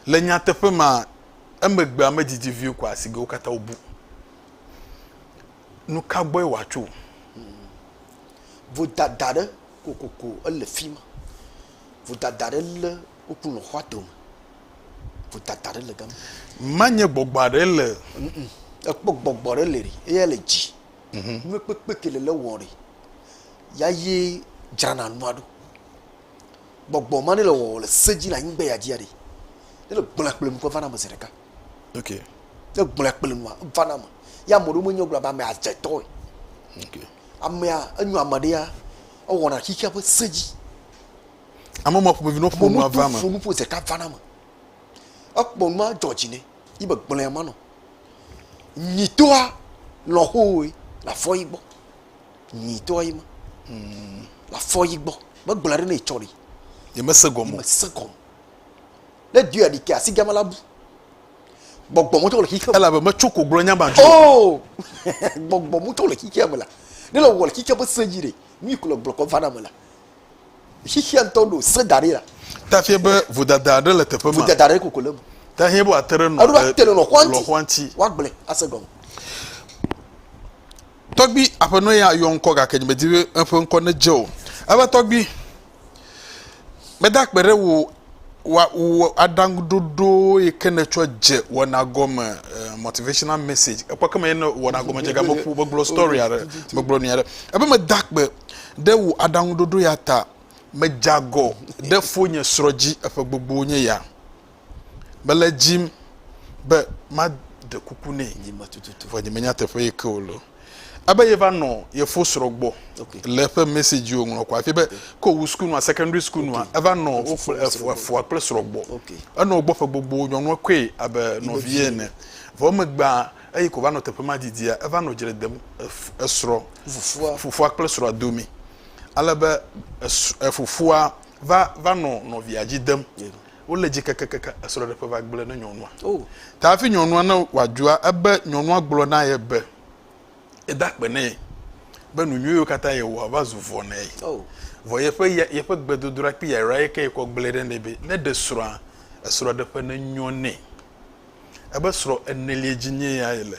Speaker 1: Le nyateƒe mea, emegbea medidi vie ko asigɛwo katã wobu. Nuka gbɔe wòatso? Vodada ɖe kokoko ele fima. Vodada ɖe le Woku nɔ xɔa tome. Ƒutata ɖe le gama. Manye gbɔgbɔ aɖe le. Ekpɔ gbɔgbɔ ɖe le ri eya le dzi. Mhm. Nue kpekpe ke le le wɔ ɖe. Ya ye dzrana nua ɖo. Gbɔgbɔ ma ne le wɔ le se dzi le anyigbe ya dzi aɖe. Ne le gblɔa kple nukɔ va na me zi ɖeka. Ok. Ne gblɔa kple nua va na me. Ya ame ɖewo menye gblɔ be ame adze tɔe. Ok. Amea enyo ame ɖe ya ewɔna xixia ƒe se dzi. Ame ma ƒomevi no ƒo nua va me. Ƒo nuƒo zeka va na me. Ekpɔ nua dzɔ dzi ne yi be gblẽ ya manɔ. Nyitoa lɔhoe la fɔ yi gbɔ. Nyitoa yi ma. Hmm. La fɔ yi gbɔ. Me gblẽ ɖe ne yi tsɔ ɖi. Ye me se gɔmɔ. Me se gɔmɔ. Ne dua ɖi ke asi gama la bu. Gbɔgbɔ mutɔ le xixeame. Ela be me tso ko gblɔ nya ma dzo. Oh! Gbɔgbɔ mutɔ le xixeame la. Ne le wɔ le xixeame se dzi ɖe. Nui ko le gblɔ kɔ va na me la. Xexea ŋutɔ ɖo se da ɖi la. Ta fia be vodada aɖe le teƒe ma. Vodada aɖe koko le eme. Ta fia be wòate ɖe nɔ. Eɖo ate ɖe nɔ xɔa ŋuti. Woagblẽ ase gɔme. Tɔgbi aƒenɔ ya yɔ ŋkɔ gake nyemedi be eƒe ŋkɔ nedze o. Ebe tɔgbi, meda akpe ɖe wò wa wò aɖaŋuɖoɖo yi ke nètsɔ dze wɔna gɔme eh, motivational message ekpɔ ke me ye ne wɔna gɔme dze ga meƒo megblɔ story aɖe megblɔ nu aɖe ebe meda akpe ɖe wò aɖaŋuɖoɖo ya ta medze agɔ ɖe fonye srɔ̃ dzi eƒe gbogbo nye ya mele edzim be maɖe kuku nɛ Nyima tututu. vɔ nyemenya teƒe yi ke wòle o Ebe ye va nɔ ye fo srɔ gbɔ le eƒe message yo ŋlɔ kɔ afi be ko wu school nua secondary school nua eva nɔ wo kple efoa kple srɔ gbɔ enɔ gbɔ ƒe gbogbo nyɔnua koe abe nɔvi ye ene vɔ megbea eyi ko va nɔ teƒe ma didia eva nɔ dzre dem esrɔ fufua fufua kple srɔa domi ale be efufua va va nɔ nɔvia dzi dem yeah. Wo le dzi kakakaka esrɔɖeƒe va gblɔe ne nyɔnua. Oh. Ta hafi nyɔnua ne wa dzua ebe nyɔnua gblɔ na ye be ye da kpe nɛ be nu nyuiwo kata ye wɔa va zu vɔ nɛ. Oh. Vɔ yeƒe ya yeƒe gbedodoɖa kple yayra ye ke ye kɔ gblɔe ɖe nɛ be ne ɖe srɔa esrɔɖeƒe ne nyɔ nɛ. Ebe srɔ enelie dzi nye ya ye le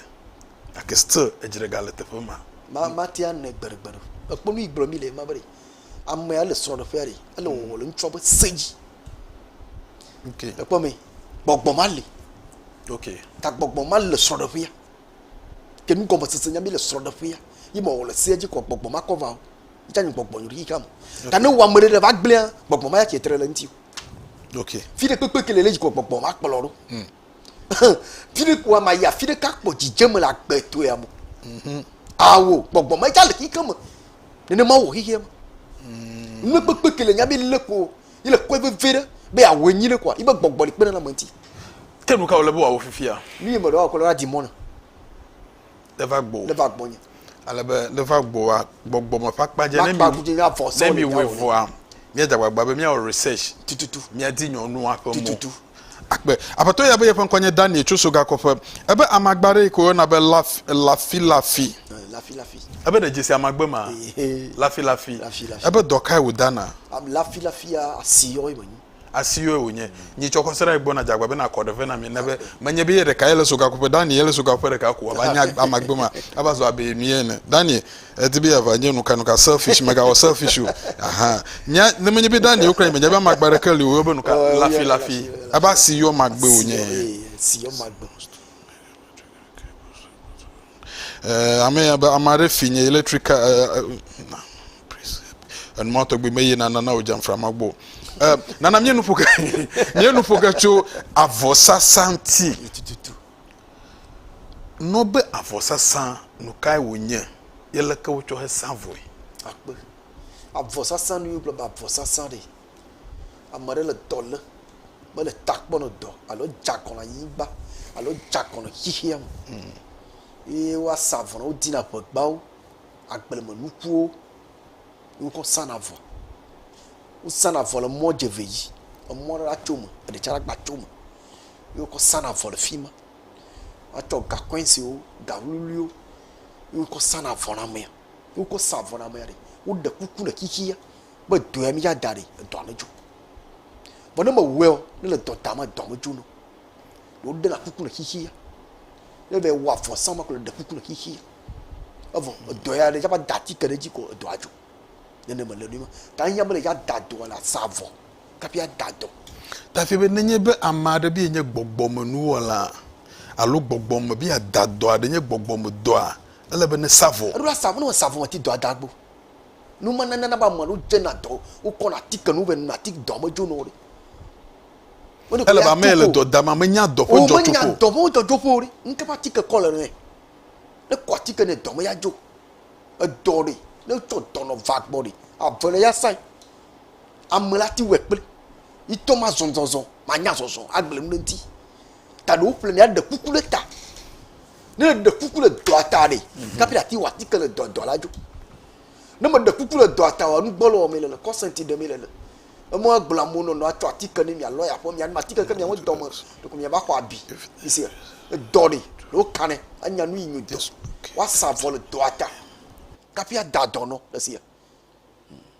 Speaker 1: gake still edzre ga le teƒe ma. Ma ma tea nɛ gbeɖegbeɖe. Ekpɔ nu yi gblɔ mi le ema be ɖe amea le srɔɖeƒea ɖe ele wɔwɔ le ŋutsua be se dzi. Okay. Ekpɔ mi, gbɔgbɔ ma li. Okay. Ta gbɔgbɔ ma le srɔ̃ɖeƒea. Ke nu gɔme sese nya mi le srɔ̃ɖeƒea. Yi me wòle sea dzi kɔ gbɔgbɔ ma kɔ va o. Ita nyi gbɔgbɔ nyori kam. Ta ne wame ɖe ɖe va gblẽa, gbɔgbɔ ma ya ke tre le ŋuti o. Okay. Fi ɖe kpekpe ke le le dzi kɔ gbɔgbɔ ma kplɔ ɖo. Mm. Fi ɖe kua ma ya, fi ɖe ka kpɔ dzidzem le agbe to ya mo. Mhm. Awo, gbɔgbɔ ma ya le xixeme. Nenema wò xixea me. Mm. Nu kpekpe ke le nya mi le ko. Yi le kpɔe vevie ɖe be yeawɔe nyui ɖe koa, yi be gbɔgbɔ li kpe ɖe na ame ŋuti. Ke nu ka wòle be wòawɔ fifia? Nu yi meɖe woakɔ la di mɔ nam. Le va gbɔwò. Le va gbɔnye. Ale be le va gbɔwòa, gbɔgbɔ me ƒe akpa dze. Makpa ku dzi avɔ sɔ. Ne miwɔe vɔa, míadze agbagba be míawɔ research. Tututu. Míadi nyɔnua ƒe mo. Tututu. agbe. Aƒetɔ ya be yeƒe ŋkɔ nye Daniel tso Sogakɔƒe. Ebe amagba aɖe yi ke woyɔna be lafilafi. Ebe ɖe dzesi amagbe ma? Lafilafi. Ebe dɔ kae wòdana? Lafilafia asi yɔe menyi. Asi yɔe wònye. Nyi tsɔ kɔse ɖa yi gbɔna dze agba bena akɔ ɖe vɛ na mi ne be menye be ye ɖeka ye le Sogakɔƒe. Daniel ye le Sogakɔƒe ɖeka ko. Ava nye amagbe ma. Ava zu abe mi ene. Daniel. Edi be yeava nye nukanuka, selfish, megawɔ selfish o. Aha. Nya, ne menye be Daniel kura nye menya be amagbe aɖeke li o, woyɔ be nuka? Oh, lafilafi. Abe asi yɔ magbe wònye. Asi yɔ magbe. Eh, ame abe ame aɖe fi nye electric eh, eh, na, enuma tɔgbi me yina nana o jamfra ma gbɔ eh, nana mie nuƒo ke mie nuƒo ke tso avɔsasa ŋuti Nɔ be avɔ sasã nu kae wo nye ye leke wo tsɔ he sa vɔe. Akpe. Avɔ sasã nu ye wo gblɔ be avɔ sasã ɖe. Ame ɖe le dɔ le me le ta kpɔ nɔ dɔ alo dza kɔ nɔ anyigba alo dza kɔ nɔ xixea me ye wa sa avɔ nɔ wo di na ƒegbawo, agble me nukuwo ye wo kɔ sa na avɔ. Wo sa na avɔ le mɔ dze ve yi. Emɔ ɖe la tso me eɖe tsa la gba tso me. ye wokɔ sana avɔ le fi ma. Woatsɔ gakɔɛnsiwo, gawluiwluiwo ye wokɔ sana avɔ na amea. Ne wokɔ sa avɔ na amea ɖe, woɖe kuku le xixia be dɔ ya mía da ɖi edɔa medzo o. Vɔ ne mewɔeɔ, ne le dɔ dam edɔa medzo na o. Woɖena kuku le xixia. Ne eva yi wɔ avɔ sa ma ko le ɖe kuku le xixia. Evɔ edɔ ya ne eva da atike ɖe edzi ko edɔa dzo. Nene mele nɛ ma. Ta ehiã be ne yeada dɔa la sa avɔ. Hafi ada dɔ. Dafi be nenye be ame aɖe be yenye gbɔgbɔmenuwɔla alo gbɔgbɔme be yeada dɔ aɖe nye gbɔgbɔmedɔa, ele be nesa vɔ. Eɖo asa vɔ. Ne mèsa vɔ o, ati dɔa da gbɔ. Nu ma nana be ame aɖewo dzena dɔ, wokɔna atike nu vɛ nɔna ati dɔa me dzona wo ɖi. Ele be ame yi le dɔ dam ma menya dɔ ƒe dzɔtsoƒe o. O menya dɔ ƒe dzɔtsoƒe o ɖi. Nuka ƒe atike kɔ le nɛ? Ne ekɔ atike nɛ dɔ me ya dzo. Edɔ ɖe, ne etsɔ dɔ nɔ va gbɔ ɖe, ave le ya sa. Ame la ti wɛ kple mi tɔ ma zɔzɔzɔ ma nya zɔzɔ agble nu ɖe ŋuti. Ta ɖe woƒle mi aɖe kuku ɖe ta. Ne ɖe kuku le dɔa ta ɖe, mhm. kapi ati wɔ atike le dɔ dɔ la dzo. Ne me ɖe kuku le dɔa ta wɔ nu gbɔ le wɔ mi le le kɔsɛnti ɖe mi le le. Eme agblɔ amewo nɔ nɔ atsɔ atike ne mia lɔ ya ƒe mia nu atike ke mia me dɔ me ɖe ko mia va xɔ abi. Mi se edɔ ɖe ɖe wo kanɛ anya nu yi nyo dɔ. Wa sa vɔ le dɔa ta. Kapi ada dɔ nɔ le se.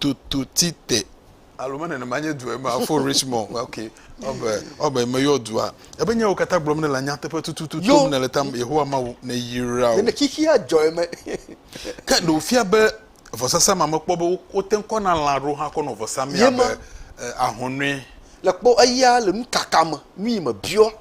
Speaker 1: Tututite, alo me nenema nye dua ema, Fort Richmond, ok, ɔbe, ɔbe meyɔ dua, ebe nyawo katã gblɔm nèle nyateƒe tututu Yo. tom nèle tam Yehowa Mawu neyra wò. Nene xixia dzɔ eme. Ke ɖe wòfia be vɔsasa ma mekpɔ be wo- wote ŋu kɔna lã aɖewo hã kɔ nɔ vɔsa mee Ye ma. abe e, ahɔnɔe. Le kpɔ eya le nukaka me, nuyi mebiɔ.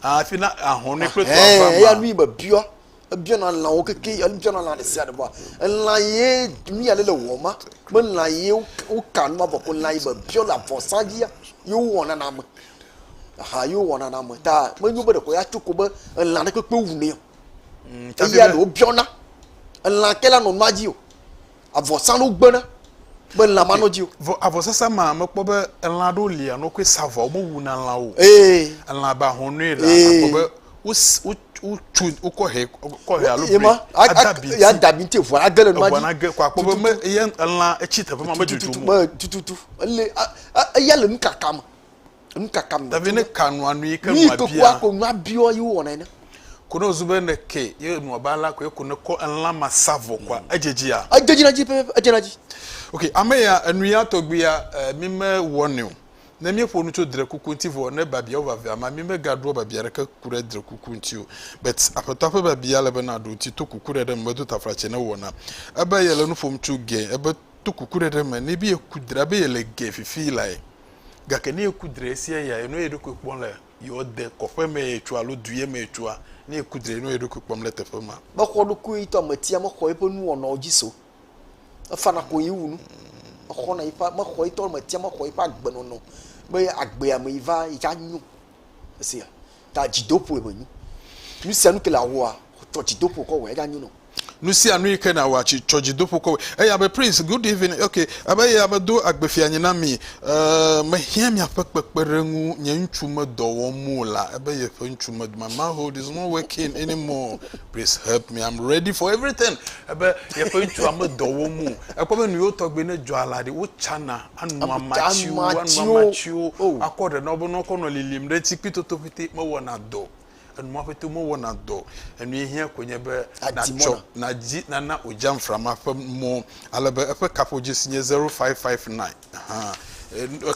Speaker 1: Hafi na ahɔnɔe kple Ɛhɛn, eya dɔavama. nuyi mebiɔ. Ebiana lãwo keke ebiana lã ɖe sia ɖe bua elã ye nu ya ne le wɔm ma me lã ye woka nu ma vɔ ko lã ye be biɔ le avɔsa dzia ye wowɔna na ame aha ye wowɔna na ame ta menyo be ɖeko ya tso ko be elã ɖe kpekpe wu nɛ o. Mm, Eya ɖewo biɔna elã ke la nɔ nua dzi o avɔsanu gbena be lã manɔ dzi o. vɔ avɔsasa ma mekpɔ be elã aɖewo li anɔ koe sa vɔ womewu na lã o. ee elã abe ahɔnɔe la akpɔ be wotso wokɔ he kɔ he alo bri adabi ti adabi ti vɔ age le nua dzi age kɔ akpɔ be me eye elã etsi teƒe ma medudu mo tututu ele eya le nukaka me Nukaka mi. Davi ne ka nua nu yi ke nua bia. Mi kekua ko nua biɔ yi wɔ na ene. Ko ne zu be ne ke ye nua ba la ko ye ko ne kɔ elã ma sa vɔ kwa edjedzi ya. Edjedzi na dzi pe edze na dzi. Ok ame ya enu ya tɔgbi ya eh, mi me wɔ ne o. Ne mi ƒo nu tso dre kuku ŋuti vɔ ne babia wo vavia ma mi me ga ɖoa babia ɖeke ku ɖe dre kuku ŋuti o. Bet aƒetɔa ƒe babia le be na ɖo ŋuti to kuku ɖe ɖe me medo tafla tse ne wɔna. Ebe ye le nu ƒom tso ge ebe to kuku ɖe ɖe me ne bi ye ku dra be ye le ge fifi lae. Gake ne eku dre esia ya enɔ eɖokui kpɔm le yewoade kɔƒe me ye tsua alo due me ye tsua, ne eku dre enɔ eɖokui kpɔm le teƒe ma. Mexɔ ɖokuiɣitɔ ametia mexɔ yeƒe nuwɔnawo dzi se o. Efana koŋ yi wu nu. Exɔna yeƒe, mexɔ yetɔ ametia mexɔ yeƒe agbenɔnɔ be agbea me yi va yi ke anyo. Esia ta dzidoƒoe menyo. Nu sia nu ke le awɔa, tsɔ dzidoƒo kɔ wɔe, eya nyo nɔ. Nu sia nu yi ke nàwɔa, tsi tsɔ dzidoƒo kɔ wɔe. Eya be, Prince, good evening, ok, ebe eya be do agbefianyi na mi, eh, mehiã miaƒe kpekpeɖeŋu, nye ŋutsu medɔ wɔm o la, ebe yeƒe ŋutsu med, my manhood is not working anymore, please help me, I'm ready for everything, ebe yeƒe ŋutsua medɔ wɔm o. Ekpɔ be nu yewo tɔgbe ne dzɔa la ɖe, wotsana. anu amatiwo anu amatiwo oh. akɔ ɖe na wo be ne wokɔ nɔ lilim ɖe ŋuti kpi toto ƒete mewɔna dɔ enuma ƒete mewɔna dɔ enu ye hiã koe nye be natsɔ nadzi nana odzamframa ƒe mɔ ale be eƒe kaƒodzesi nye zero five five nine hã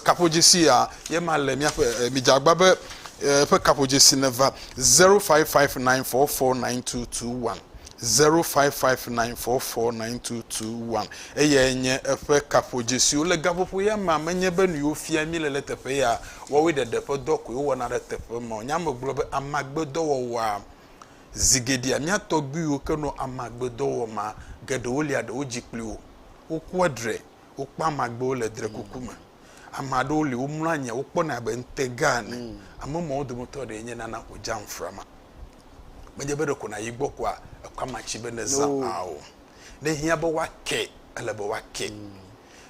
Speaker 1: kaƒodzesi ya ye ma le míaƒe midzagba be eƒe kaƒodzesi neva zero five five nine four four nine two two one 05594492221 eyae nye eƒe kaƒodzesiwo. Le gaƒoƒoya mea, menye be nuyi wofia mí le le teƒe ya wɔwoe ɖeɖe ƒe dɔ koe wowɔna ɖe teƒe ma o. Nyea me gblɔ be amagbedɔwɔwɔa. Zi geɖea mía tɔgbuiwo ke nɔ amagbedɔ wɔm ma, geɖewo lia ɖewo dzi kpli wo, wokua dre, wokpɔa amagbewo le drekuku me. Ame aɖewo li womlɔ anyi wokpɔnɛ abe ŋutega ene. Mm. Ame mawo dometɔ ɖee nye nana ko dzam frama. Menye be ɖeko nàyi gbɔ koa ekɔ amatsi be neza no. aa o. Ne hiã be woake, ele be woake. Mm.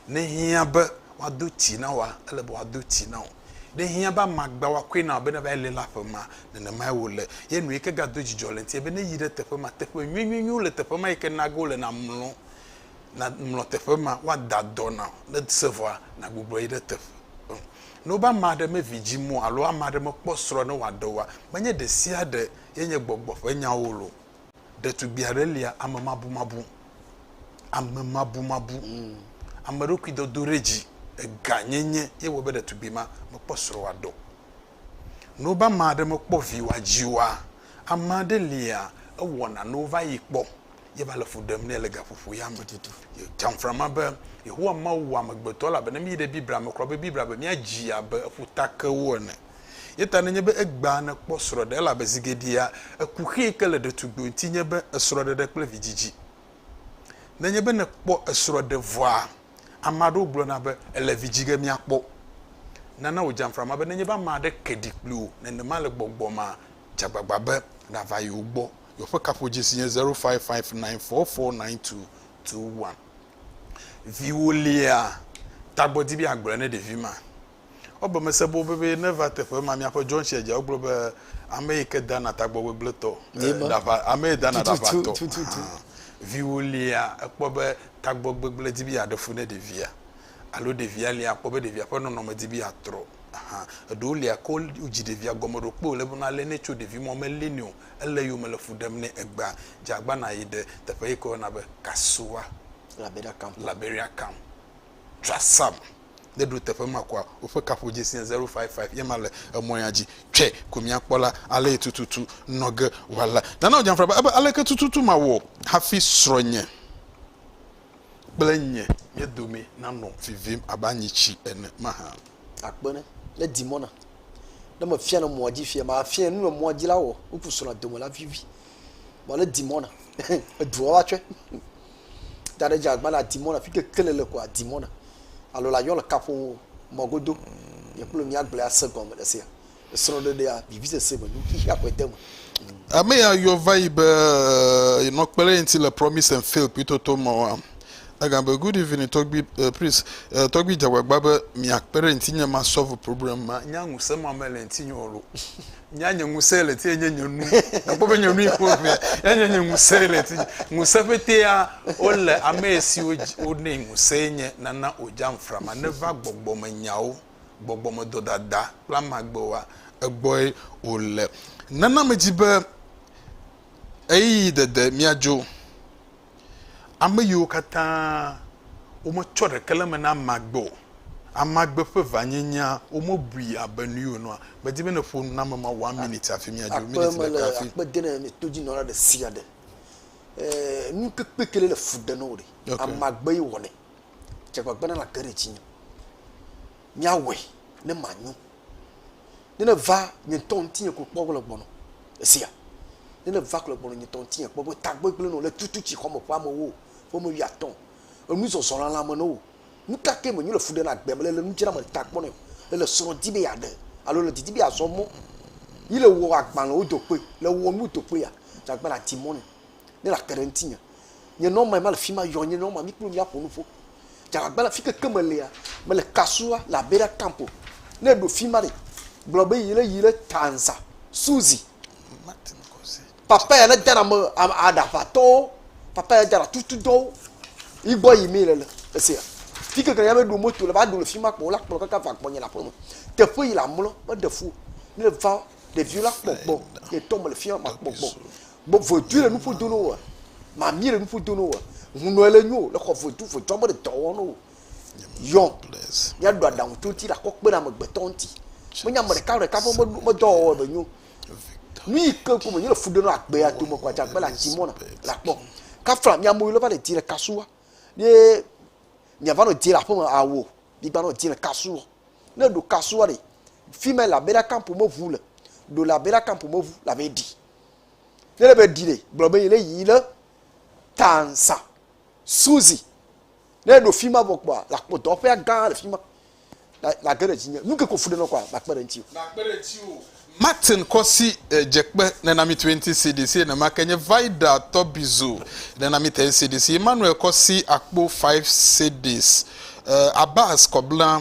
Speaker 1: Ne hiã be woado ti na woa, ele be woado ti na wò. Ne hiã be amagba woakɔe na wò be neva yi lé la ƒe ma, nenemae wòle. Ye nu yi ke gado dzidzɔ le eŋuti nye be ne yi ɖe teƒe ma, teƒe nyuinyuinyuiwo le teƒe ma yi ke nage wole namlɔ. nàŋlɔ teƒe ma, woada dɔ na wò, ne se vɔa, nàgbugbɔ yi ɖe teƒe o. Ne wobe ame aɖe mevi dzi mɔ alo ame aɖe mekpɔ srɔ̃ ne wòaɖe oa, menye ɖe sia ɖe ye nye gbɔgbɔ ƒe nyawo lo. Ɖetugbui aɖe lia amemabumabu, amemabumabu, ameɖokuidodoɖedzi, eganyenye ye wɔe be ɖetugbui ma mekpɔ srɔ̃ wòaɖe o. Ne wobe ame aɖe mekpɔ vi wòadzi oa, ame aɖe lia ewɔna ne wova yi kpɔ ye va le fu ɖem nɛ le gaƒoƒo ya me tutu. Tsamfra ma be Yehowa Mawu wɔ amegbetɔ elabena miyi ɖe Biblia me kura be Biblia be míadzi abe ƒutakewo ene. Ye ta nenye be egbea nèkpɔ srɔ̃ɖe elabe zi geɖea eku xee ke le ɖetugbui ŋuti nye be esrɔ̃ɖeɖe kple vidzidzi. Nenye be nèkpɔ esrɔ̃ɖe vɔa, ame aɖewo gblɔna be ele vi dzi ge míakpɔ. Nana wò dzamfra ma be nenye be ame aɖe ke ɖi kpli wò nenema le gbɔgbɔmea, dze agbagba be nàva yewo gbɔ. Yewoƒe kaƒodzesi nye 0559449221. Viwò lia? Tagbɔ di be yeagblɔe ne ɖevi ma. Wobe mese boo be be neva teƒe ma. Miaƒe dzɔntsia dzia wogblɔ be ame yi ke dana tagbɔ gbegblẽtɔ, ɖaʋa, ame yi dana ɖaʋatɔ. Viwò lia? Ekpɔ be tagbɔ gbegblẽ di be yeaɖe fu ne ɖevia alo ɖevia lia? Akpɔ be ɖevia ƒe nɔnɔme di be yeatrɔ. Eɖewo lia ke wodzi ɖevia gɔme ɖo kpe wòle be nalé nɛ tso ɖevimɔ melé nɛ o. Ele yome le fu ɖem nɛ. Egbea, dze agbana yi ɖe teƒe yi ke woyɔna be Kasoa, Liberia Camp. Liberia Camp. Tsɔa Sam. Ne eɖo teƒe ma koa, woƒe kaƒodzesi nye 055 ye ma le emɔ ya dzi. Tsɔe ko míakpɔ la, alee tututu nɔ ge wòale. Nana wòdze afra be, Aleke tututu mawɔ hafi srɔ̃nye. kple nye mía domee nanɔ vivim abe anyitsi ene mahã? Akpe ne ne Dimona. Ne mefia le mɔa dzi fia, mafia nu le mɔa dzi la wɔ ŋku srɔ̃a dome la vivi. Vɔ ne Dimona, edua va tsɔe. Da ɖe dze agba le Dimona, fi ke kele le koa Dimona. Alo la yɔ le kaƒo mɔ godo. Nye kple mía gblẽ ase gɔme le esia. esrɔ̃ɖeɖea vivisese me nu xexea ƒe deme. Ame ya yɔ va yi be yenɔ kpe ɖe ye ŋuti le Promise and Fail kpuitɔtɔ mɔ wa. Egagblɔ be, Good evening, Tɔgbui, eh, please, eh, Tɔgbui dze agbagba be miakpe ɖe ŋutinye ma solve problem ma. Nya ŋusẽ ma mele ŋutinye o lo. Nya nye ŋusẽ le ŋutinye nye nye nu. Nakpɔ be nye nu yi ƒe ŋee. Nya nye nye ŋusẽ le ŋutinye. Ŋusẽ ƒetea wole ame siwo dzi wonɛ ŋusẽe nye nana wòdzam frama neva gbɔgbɔmenyawo. gbɔgbɔmedɔdada kple amagbe oa, egbɔe wòle. Nana medzi be ɣeyiɣi dede míadzo. Ame yiwo katã wometsɔ ɖeke le eme na amagbe o, amagbe ƒe vanyenyea, womebui abe nu yi wònɔa. Medi be nèƒo nu na ame mawo one minit hafi míadzo, minit ɖeka hafi. Akpe mele akpe dem ne todzinɔla ɖe sia ɖe. Enu ke kpekpe le fu ɖem na wò ɖe, amagbe ye wɔnɛ. dze agbagba ne nàge ɖe dzinye. Míawɔe ne manyo. Ne nèva nye ŋutɔ ŋutinye ko kpɔ le gbɔnɔ. Èsea? Ne nèva ko le gbɔnɔ nye ŋutɔ ŋutinye kpɔ be tagbegblẽ nɔ le tutu tsi xɔme ƒe amewo ƒe ame wuiatɔ̃. Enu zɔzɔ lãlã me nɔ wo. Nu ka ke menyo le fu ɖe na agbe me le le nu dzram le ta kpɔ nɛ le le srɔ̃ di be yeaɖe alo le didi be yeazɔ mɔ yi le wɔ agbalẽwo do kpe le wɔ nu do kpe ya dze agbagba ne ati mɔ nɛ. Ne la te ɖe ŋutinye. Nye nɔma ema le fi ma yɔ nye nɔma mi kple miaƒo nuƒo. Dzalagba la fike ke me lea mele kasua le abe ɖa camp o. Ne eɖo fi ma ɖe gblɔ be yi le yi le Tanza Suzi. Papa ya ne dana me aɖaʋatɔwo papa ya dana tutu dɔwo. Yi gbɔ yi mi le le esia. Fi ke ke ya be ɖo moto le ba ɖo le fi ma kpɔ la kplɔ kaka va gbɔ nye le aƒe me. Teƒe yi la mlɔ me ɖe fu. Ne va ɖeviwo la kpɔ gbɔ le tɔ me le fi ma kpɔ gbɔ. Gbɔ vodui le nuƒo do no woa? Mamie le nuƒo do no woa? Hunɔe le nyo le xɔ vodu vodzɔ me le dɔ wɔm no wo. Yɔ, mía ɖo aɖaŋu tso ŋuti ɖe akɔ kpe ɖe amegbetɔ ŋuti. Menye ame ɖeka ɖeka ƒe medɔ wɔwɔ be nyo. Nu yi ke ko menye le fu ɖe no agbea dome ko adzagbe le ati mɔna le akpɔ. Kafla mía amewo le va le di le kasu wa. Ye mía va nɔ di le aƒe me awo. Mi gba nɔ di le kasu wa. Ne ɖo kasu wa ɖe. Fime la bera kampo me ʋu le. Ɖo la bera kampo me ʋu la be ɖi. Nele be dile gblɔ be yele yi le tansa. Suzi. Ne ɖo fi ma vɔ kpɔa, la kpɔ dɔwɔƒea gã le fi ma. La la ge ɖe dzi nye. Nu ke ko fu ɖe nɔ kɔa, la kpe ɖe ŋuti. La kpe ɖe ŋuti o. Martin kɔsi e dze kpe ne na mi tue ŋuti si ɖi si nɛma ke nye Vida tɔbizu ne na mi tɛn si ɖi si Emmanuel kɔsi akpo five si ɖis e Abbas kɔ bla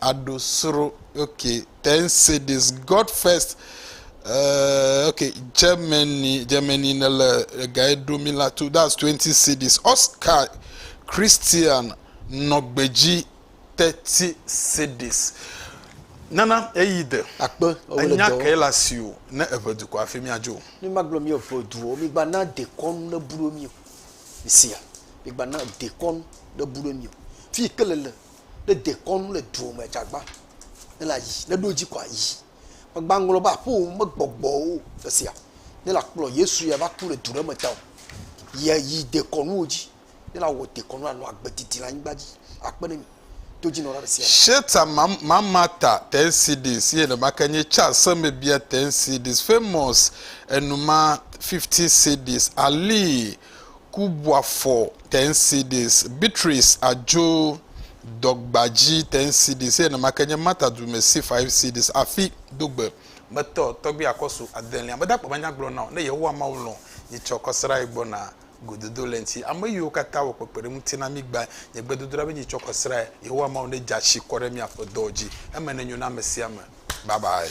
Speaker 1: aɖo sro okay ten say this God first uh, okay Germany Germany ne le egae ɖo mi la to that's twenty cities Oscar Christian nɔ gbedzi thirty cities nana eyi de akpe enya ke la si o ne eve dukɔ afi mi adzo mi ma gblɔ mi eve duwo mi gba na dekɔnu ne bu ɖo mi o mi sia mi gba na dekɔnu ne bu ɖo mi o fi ke le le ne dekɔnu le duɔ me dza gbã, ne la yi, ne ɖo dzi kɔa yi. Me gba ŋlɔ be aƒeo me gbɔgbɔwo le sia, ne la kplɔ Yesu ya va ku le du ɖe me tao. Yɛ yi dekɔnuwo dzi, ne la wɔ dekɔnu la nɔ agbe didi le anyigba dzi akpe ne mi to dzi nɔ la ɖe sia ɖe. Sheta Mamata Tensidis ye nɔma ke nye ca semebia Tensidis famous enuma 50 cedis alii Kubwafɔ Tensidis, Beatrice Adjo Dɔgbadji Tensidis eye nenema ke nye Martha Dumesi Faifsidis afi do gbe. Metɔ tɔgbi akɔsu adelia meda kpɔ manya gblɔ na wò ne Yehowa Mawu lɔ̃ nye tsɔ kɔ srae gbɔ na gododo le ŋti ame yiwo katã wɔ kpekpeɖe ŋuti na mi gba nye gbedodoɖa be nye tsɔ kɔ srae Yehowa Mawu ne dza shi kɔ ɖe mia ƒe dɔwo dzi eme ne nyo na ame sia ame bye bye.